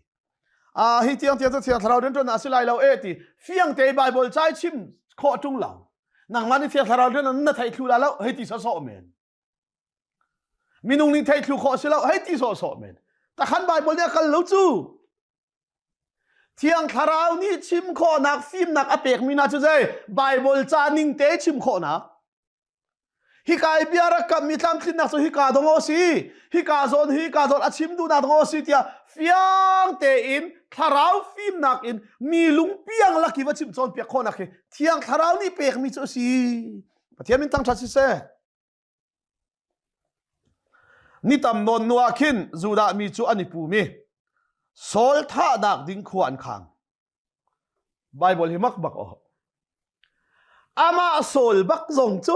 ah hi tiang tiang cu thiang thlarau rianṭuannak a si lai lo e ti fiang te Bible cai chim khawh ṭung lo nangmah nih thiang thlarau rian na theih thlu la lo hei ti sawsawh men Minung nih theih thlu khawh si lo hei ti sawhsawh men. Takhan Bible nih a kal lo cu. Thiang Thlarau nih chim khawhnak fimnak a pekmi hna cu zei Bible ca ning te chim khawhnak. Hika i bia rak kammi tlamtlinnak cu hika dong o si, hika zawn hika zawn a chim duhnak dong o si tiah fiang tein thlarau fimnak in mi lungpiang laki va chim cawn piak khawhnak hi Thiang Thlarau nih pekmi cu a si. Pathian min tangṭhat siseh. Ni tam nawn nu ah khin Judah mi cu an i pumi Saul thahnak ding khua an khang. Bible hi mak bak oh. Ama Saul bak zong cu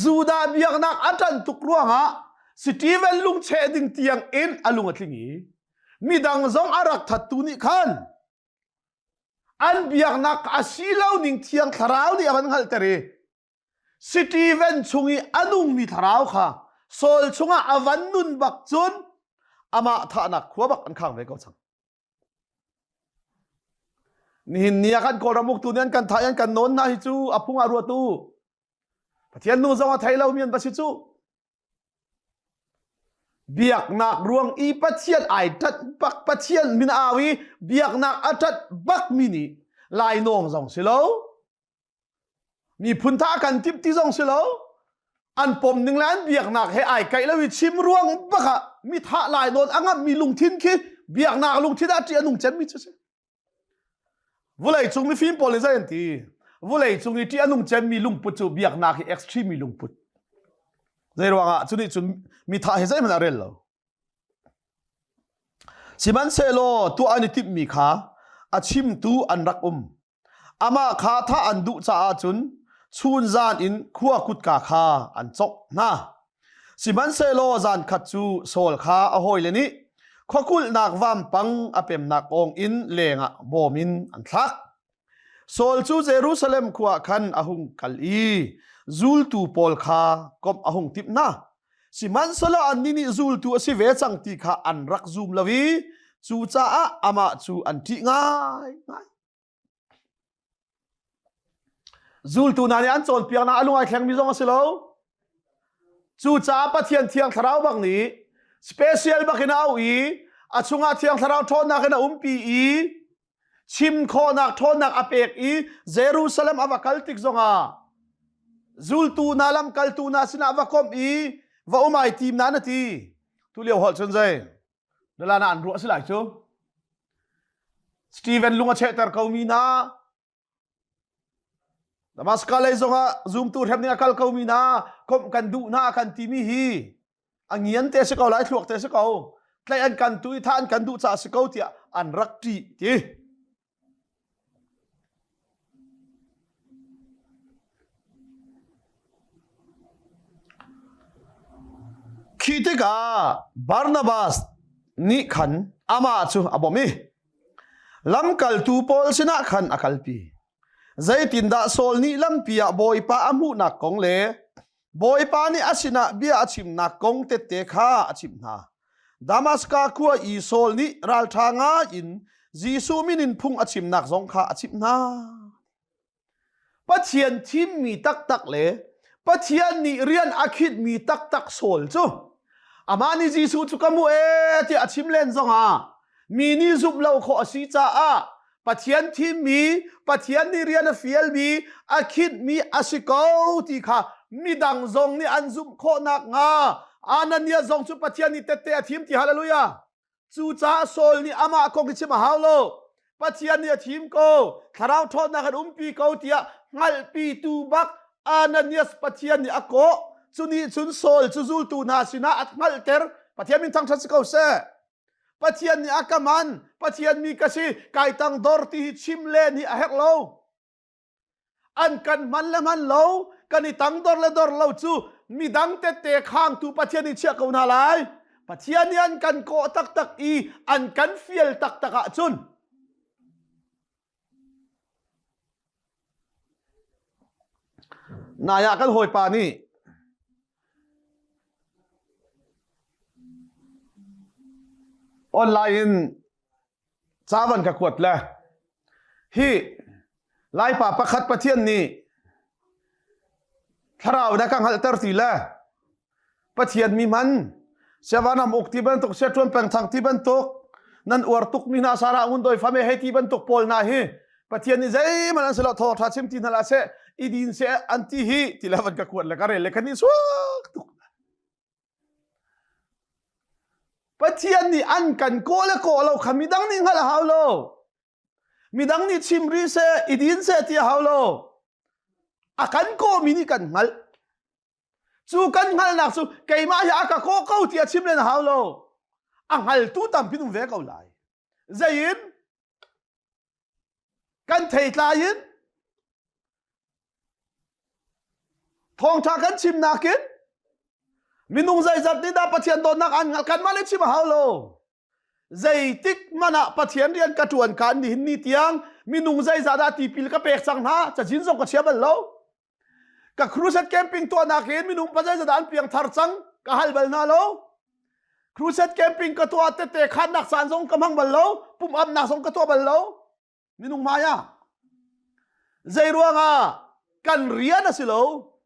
Judah biaknak a ṭan tuk ruangah Stephen lungcheh ding tiang in a lung a tling i midang zong a rak thattu nih khan An biaknak a si lo ning thiang thlarau nih a van hngalhter i Stephen chung i a nungmi thlarau kha Saul chungah a van nun bak cun amah thahnak khua bak an khang ve ko cang. Nihin ni ah kan Kawlram uktu nih an kan thah i an kan nawn hna hi cu a phung ah ruatu Pathian nu zong a thei lomi an va si cu. Biaknak ruang i Pathian ai tat bak Pathian min a au i biaknak a tat bakmi nih lainawng zong si lo miphun tha kan timh ti zong si lo an pom ning le an biaknak he ai kaih lo i chim ruang bak ah mi thah lai nawn a ngammi lungthin khi biaknak lungthin ah ṭih a nung cemmi cu si. Vuleicung mifim pawl nih zei an ti? Vuleicung i ṭih a nung cemmi lungput cu biaknak hi extreme mi lungput. Zei ruangah? Cu nih cun mithah he zeihmanh a rel lo. Sihmanhsehlaw tuah an i timhmi kha a chimtu an rak um. Amah kha thah an duh caah cun chun zan in khua kutka kha an cawk hna. Sihmanhsehlaw zankhat cu Saul kha a hawile nih khwakulhnak vampang a pemnak awng in lengah bawm in an thlak. Saul cu Jerusalem khua ah khan a hung kal i zultu pawl kha komh a hung timh hna. Sihmanhsehlaw annih nih zultu a si ve cang ti kha an rak zum lo i cucaah amah cu an ṭih ngaingai. Zultu hna nih an cawnpiaknak a lung ai thlengmi zong a si lo. Cucaah Pathian Thiang Thlarau bang nih special bakin a auh i a chungah Thiang Thlarau ṭhawnnak in a umpi i chim khawhnak ṭhawnnak a pek i Jerusalem a va kal tik zongah zultu hna lamkaltu hna sinah va komh i va um ai tim na na ti. Tu lio holh cun zei? Nalana an ruah si lai cu. Stephen lung a chehter ko mi hna. Damascus lei zongah zumtu hrem ding a kal ko mi hna. Komh kan duh hna kan timi hi a ngian te si ko lai thluak te si ko. Tlaih an kan tu i tha an kan duh caah si ko tiah an rak ti ti. Khi tikah Barnabas nih khan amah cu a bawmh i lamkaltu pawl sinah khan a kalpi. Zeitindah Saul nih lampi ah Bawipa a hmuhnak kong le Bawipa nih a sinah bia a chimnak kong tette kha a chimh hna. Damaska khua i Saul nih ralṭha ngai in Jesuh min in phung a chimnak zong kha a chimh hna. Pathian thimmi taktak le Pathian nih rian a khitmi taktak Saul cu amah nih Jesuh cu ka hmuh ee tiah a chim len zongah mi nih zumh lo khawh a si caah Pathian thimmi, Pathian nih rian a fialmi, a khitmi a si ko ti kha midang zong nih an zumh khawh nakhnga Anania zong cu Pathian nih tette a thim ti hallelujah. Cucaah Saul nih amah kong hi chim a hau lo. Pathian nih a thim ko, thlarau ṭhawnnak kan umpi ko tiah hngalhpitu bak Ananias Pathian nih a kawh. Cu nih cun Saul cu zultu hna sinah a hngalhter. Pathian min thangṭhat si ko seh. Pathian nih a ka man Pathian mi ka si kai tang dor ti hi chim le ni a hek lo an kan man le man lo kan i tang dor le dor lo cu midang tete khangtu Pathian i chiah ko hna lai Pathian nih an kan kawh taktak i an kan fial taktak ahcun Nai ah kan hawipa nih online in ca van ka kuat le hi Laipa pakhat Pathian nih thlarau na ka hngalhter ti le Pathian mi man siavan ham uk ti bantuk sia tuan peng thang ti bantuk nan uar tuk mi hna sara ngun doi fame hei ti bantuk pawl na hi pathian ni zeiman an selo tho tha chim ti na la se idin se an ti hi ti la van ka kuat le ka re le kan ni suak tuk pathian ni an kan ko le ko lo kha midang ni ngal hau lo midang ni chim ri se idin se ti hau lo akan ko mi ni kan ngal Cu kan hngalhnak cu keimah hi a ka kawh ko ti a chim len a hau lo. A hngaltu tampi um ve ko lai. Zeiin? Kan theitlai in thawngtha kan chim nakin minung zeizat nih dah Pathian dawtnak an hngalh kan mah le chim a hau lo. Zeitik man ah Pathian rian ka tuan kan nihin ni tiang minung zeizat dah tipil ka pek cang hna cachin zong ka chia bal lo. ka crusade camping tuahnak in minung pazai zat an piangthar cang ka hal bal hna lo crusade camping ka tuah tete khannak san zong ka mang bal lo pum amnak zong ka tuah bal lo minung maya zei ruanga kan rian a si lo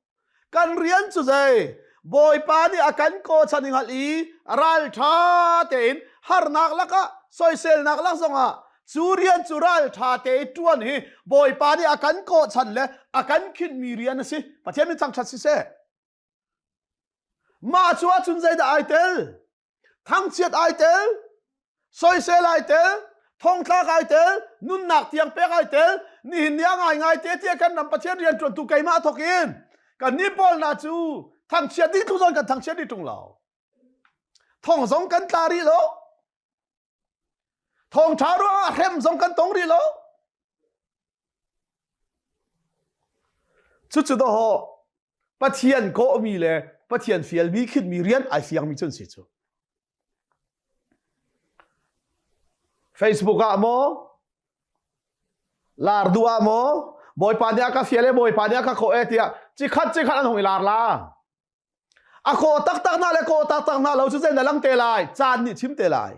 kan rian cu zei bawipa nih a kan ko chan ngal i ral tha tein harnak lakah soiselnak lak zongah cu rian cu ralṭha te i ṭuan hi bawipa nih a kan kawhchan le a kan khinhmi rian a si pathian min thangṭhat siseh mah cu ahcun zeidah ai tel thangchiat ai tel soisel ai tel thongtlak ai tel nunnak tiang pek ai tel nihin ni ah ngaingai te tiah kan ram pathian rian ṭuantu keimah thok in kan ni pawl hna cu thangchiat dih tluzon kan thangchiat dih ṭung lo thong zong kan tla rih lo Thawngṭha ruangah hrem zong kan tong rih lo. Cucu daw Pathian kawhmi le Pathian fialmi khitmi rian ai fiangmi cun si cu. Facebook ah maw, lar du ah maw, bawipa nih a ka fial e, bawipa nih a ka khawh e tiah cikhat cikhat an hong i lar la. A kaw taktak hna le kaw taktak hna lo cu zei na lang te lai caan nih chim te lai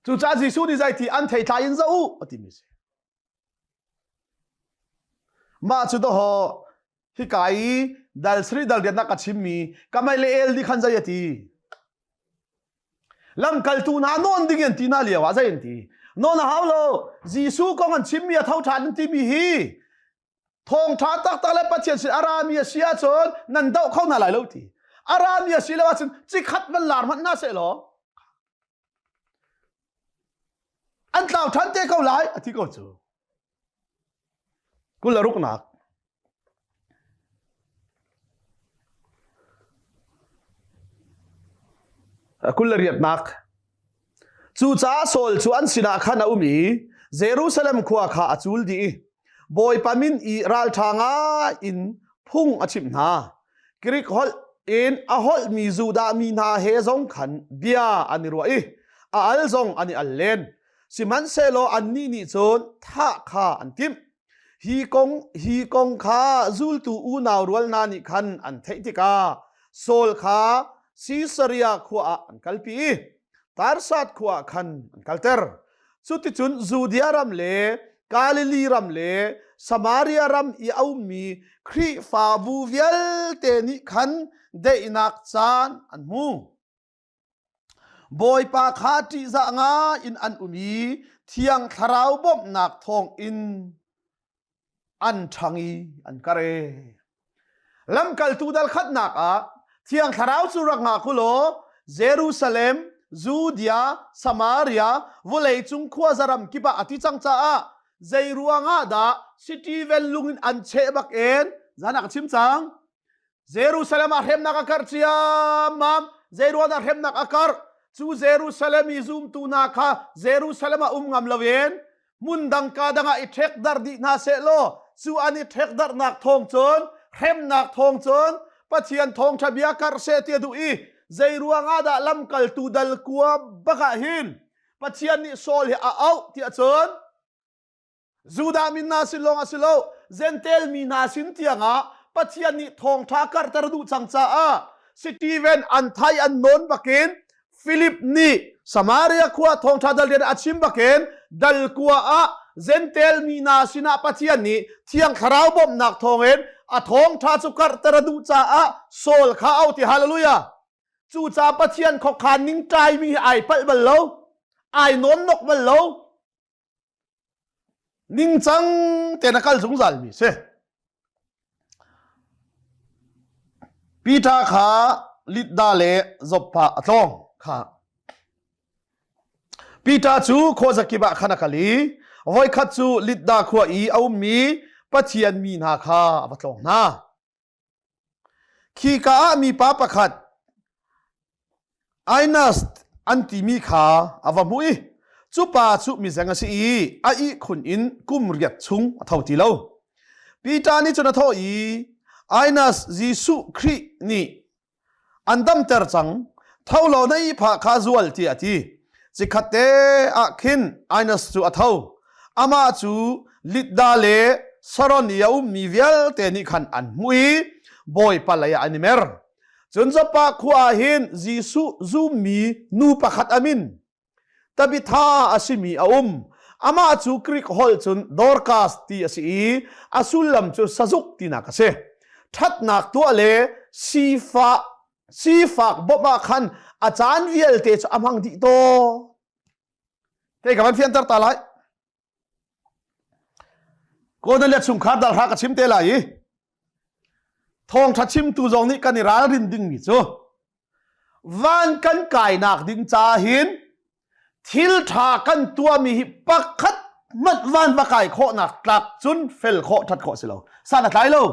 cu ca Jesuh nih zeiti an thei thlai in zoh u a timi si mah cu daho hika i dal sri dal rian ka chimmi kamai le el nih khan zei ati lamkaltu hna nawn ding in ti na liao ah zei an ti non a hau lo Jesuh kong an chimmi a tho ṭhan an timi hi thawngtha taktak le pathian sin a rami a si ahcun nan doh kho hna lai lo ti a rami a si lo ahcun cikhat van lar hmanh hna seh law an tlau than te ko lai a ti ko cu kul a ruknak kul riatnak Cucaah Saul cu an sinah khan a um i Jerusalem khua kha a cul dih i Bawipa min i ralṭha ngai in phung a chimh hna. Grik holh in a holhmi Judah mi hna he zong khan bia an i ruah i a al zong an i al len. Sihmanhsehlaw annih nih cun thah kha an timh. Hi kong hi kong kha zultu unau rual hna nih khan an theih tikah Saul kha Sisaria khua ah an kalpi i Tarsat khua ah khan an kalter. Cuticun Judea ram le Galilee ram le Samaria ram i a ummi Khrihfabu vialte nih khan daihnak caan an hmu. Bawipa kha ṭihzah ngai in an um i Thiang Thlarau bawmhnak thawng in an ṭhang i an kare. Lamkaltu dal khatnak ah Thiang Thlarau cu rak ngak u law Jerusalem, Judea, Samaria, vawleicung khua zaram kip ah a ti cang caah zei ruangah dah City vel lung in an cheh bak in zan ah ka chim cang. Jerusalem ah hremnak a karh ciammam. Zeiruang dah hremnak a karh? Cu Jerusalem i zumtu hna kha Jerusalem ah um ngam loin hmun dang ka dang ah i ṭhekdarh dih hna seh law cu an i ṭhekdarhnak thawng cun hremnak thawng cun Pathian thawngṭha bia karh seh ti a duh i zei ruangah dah lamkaltu dal kua bak ah hin Pathian nih Saul hi a auh ti ahcun Judah mi hna sin lawng a si lo, Zentail mi hna sin tiangah Pathian nih thawngṭha karhter duh cang caah Stephen an thai an nawn bakin Philip nih Samaria khua thawngṭha dal rian a chim bakin dal kua ah Zentail mi hna sinah Pathian nih Thiang Thlarau bawmhnak thawngin a thawngṭha cu karhter a duh caah Saul kha au ti hallelujah. Cucaah Pathian khokhan ning ṭaimi hi ai palh bal lo, ai nawn nok bal lo. ningcang tein a kal zungzalmi si Peter kha Lidda le Zoppa a tlawng kha Peter cu khuazakip ah khan a kal i voikhat cu Lidda khua i a ummi Pathian mi hna kha a va tlawng hna Khika ah mipa pakhat Ainast an timi kha a va hmuh i cupa cu mizeng a si i a ihkhun in kum riat chung a tho ti lo. Peter nih cun a thawh i, Ainas, Jesuh Khrih nih an damter cang tho lo na ipha kha zual tiah a ti cikhat te ah khin Aenas cu a tho ama cu litda le saron i a ummi vialte nih khan an hmuh i bawipa lei ah an i mer cun Joppa khua ah hin Jesuh zummi nu pakhat amin tabitha a simi a um amah cu Greek holh cun Dorcas ti a si i a sullam cu sazuk tinak a si thatnak tuah le sifa sifak bawmh ah khan a caan vialte cu a hmang dih to te ka van fianter ta lai Godan le chungkhar dal hra ka chim te lai i thawngtha chimtu zong nih kan i ralrin dingmi cu van kan kainak ding ca hin thil tha kan tuahmi hi pakhat hmanh van va kai khawhnak tlak cun fel khawh that khawh si lo san a tlai lo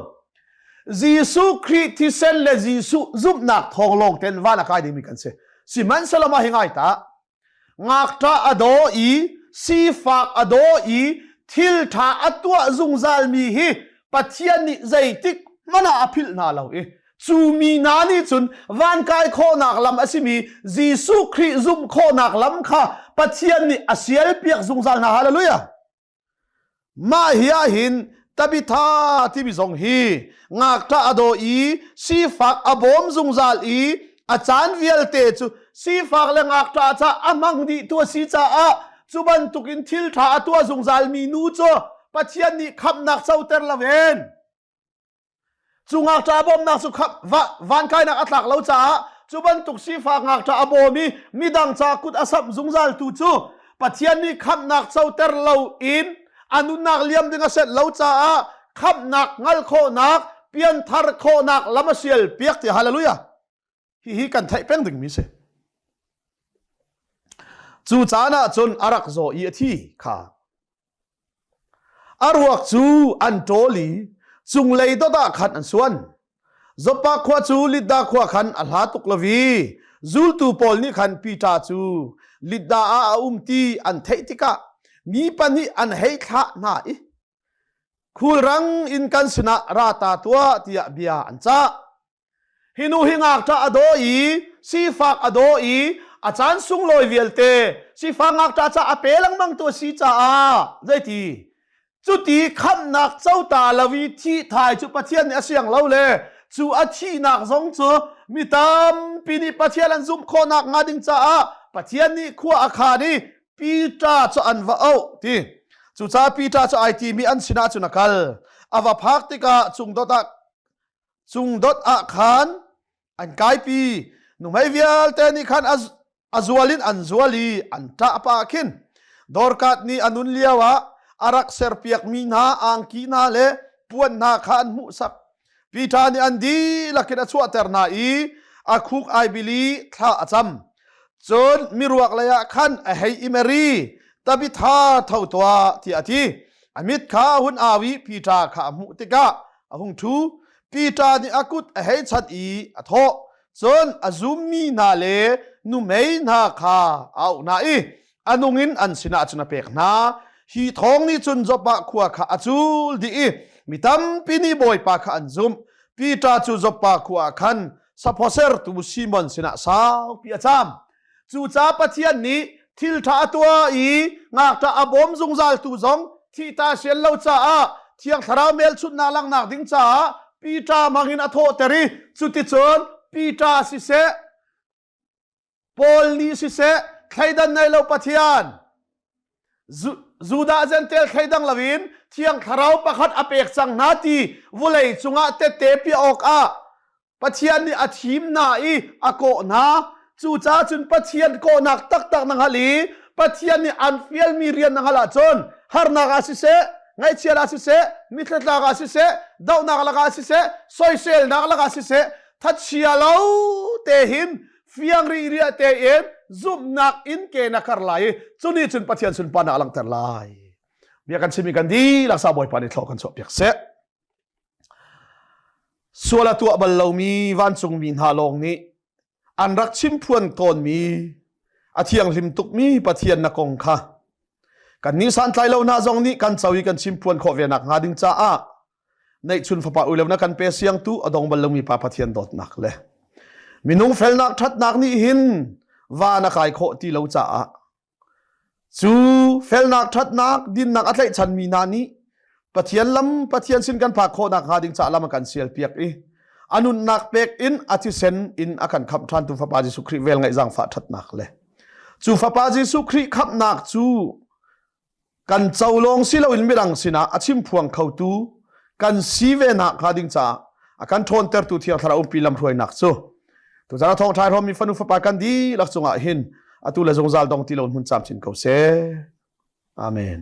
Jesuh Khrih thisen le Jesuh zumhnak thawng lawng ten van a kai dingmi kan si sihmanhsehlaw mah hi ngai ta Ngakṭah a daw i sifak a daw i thil ṭha a tuah zungzalmi hi Pathian nih zeitik hmanh ah a philh hna lo i cu mi hna nih cun van kai khawhnak lam a simi Jesuh Khrih zumh khawhnak lam kha Pathian nih a sial piak zungzal hna. Hallelujah! Mah hi ahhin tabitha timi zong hi ngakṭah a daw i sifak a bawm zungzal i a caan vialte cu sifak le ngakṭah ca a hmang dih tu a si caah cu bantukin thilṭha a tuah zungzal mi nu cu Pathian nih khamhnak coter lo en. Cu ngakṭah a bawmnak cu van kainak a tlak lo caah cu bantuk sifak ngakṭah a bawm i midang ca kut a samh zungzal tu cu Pathian nih khamhnak coter loin a nunnak liam ding a set lo caah khamhnak hngal khawhnak pianthar khawhnak lam a sial piak ti haleluia hihi kan theih peng dingmi si cu caan ah cun a rak zaw i a thi kha a ruak cu an ṭawl i cunglei dot ah khan an suan Zoppa khua cu Lidda khua khan a hla tuk lo i zultu pawl nih khan Peter cu Lidda ah a um ti an theih tikah mi pahnih an hei thlah hna i khulrang in kan sinah ra ta tuah tiah bia an cah Hi nu hi ngakṭah a daw i sifak a daw i a caan sunglawi vialte sifak ngakṭah ca a pe lengmang tu a si caah zeiti cuti khamhnak cota lo i thih thai cu Pathian nih a siang lo le cu a thihnak zong cu mi tampi nih Pathian an zumh khawhnak hnga ding caah Pathian nih khua a khan i Pita cu an va auh ti cucaah Pita cu ai timi an sinah cun a kal a va phak tikah cung dot ah Cung dot ah khan an kaipi nuhmei vialte nih khan a zual in an zual i an ṭah pah ah khin Dorkat nih a nun lioah a rak serpiakmi hna angki hna le puan hna kha an hmuhsak. Peter nih an dihlak in a chuahter hna i a khuk ai bil i thla a cam. Cun miruak leiah khan a hei im a ri, Tabitha tho tuah tiah a ti. A mit kha a hun au i Peter kha a hmuh tikah a hung ṭhu. Peter nih a kut a hei chanh i a thawh, cun a zummi hna le numei hna kha a auh hna i, a nung in an sinah cun a pek hna hi thawng nih cun Joppah khua kha a cul dih i mi tampi nih Bawipa kha an zumh Peter cu Joppah khua ah khan saphosertu Simon sinah saupi a cham cucaah Pathian nih thilṭha a tuah i ngakṭah a bawm zungzaltu zong thihta sian lo caah thiang thlarau melchunhnak langhnak ding caah Peter hmangin a thawhter i cuticun Peter siseh Paul nih siseh thleidan nei lo Pathian Judah Gentel thleidang loin thiang thlarau pakhat a pek cang hna ti vulei cungah tete piah awkah Pathian nih a thim hna i a kawh hna. Cucaah cun Pathian kawhnak taktak na hngal i Pathian nih an fialmi rian na hngal ahcun harnak ah siseh ngaihchiat ah siseh mithlathlak ah siseh dohnak lakah siseh soiselnak lakah siseh thachia lo te hin fiang ri ria tein zumhnak in ke na kar lai i cuni cun pathian sun pa na langter lai bia kan chimi kan di laksa bawipa ni thlo kan chuah piak se suala tuah bal lomi vancungmi hna lawng nih an rak chim phuan tawnmi a thianghlim tukmi pathian na kong kha kan nih santlai lo hna zong nih kan co i kan chim phuan khawh ve nak hnga ding caah neihchun fapa ui lo na kan pe siang tu adong bal lomi pa pathian dawtnak le minung felnak thatnak nih hin va na kai khawh ti lo caah cu felnak thatnak dinnak a tlaih chan mi hna nih pathian lam pathian sin kan phak khawhnak hnga ding caah lam a kan sial piak i anunnak pek in atisen in a kan khamh than tu fapa Jesuh Khrih vel ngaih zang fa thatnak le cu fapa Jesuh Khrih khamhnak cu kan co lawng si loin mirang sinah a chimphuang khotu kan si ve nak hnga ding caah a kan ṭhawntertu thiang thlarau umpi lamhruainak cu tuzarah thawngṭha rom mi fanu fapa kan dihlak cungah hin atu le zungzal dong ti lo hun camcin ko seh amen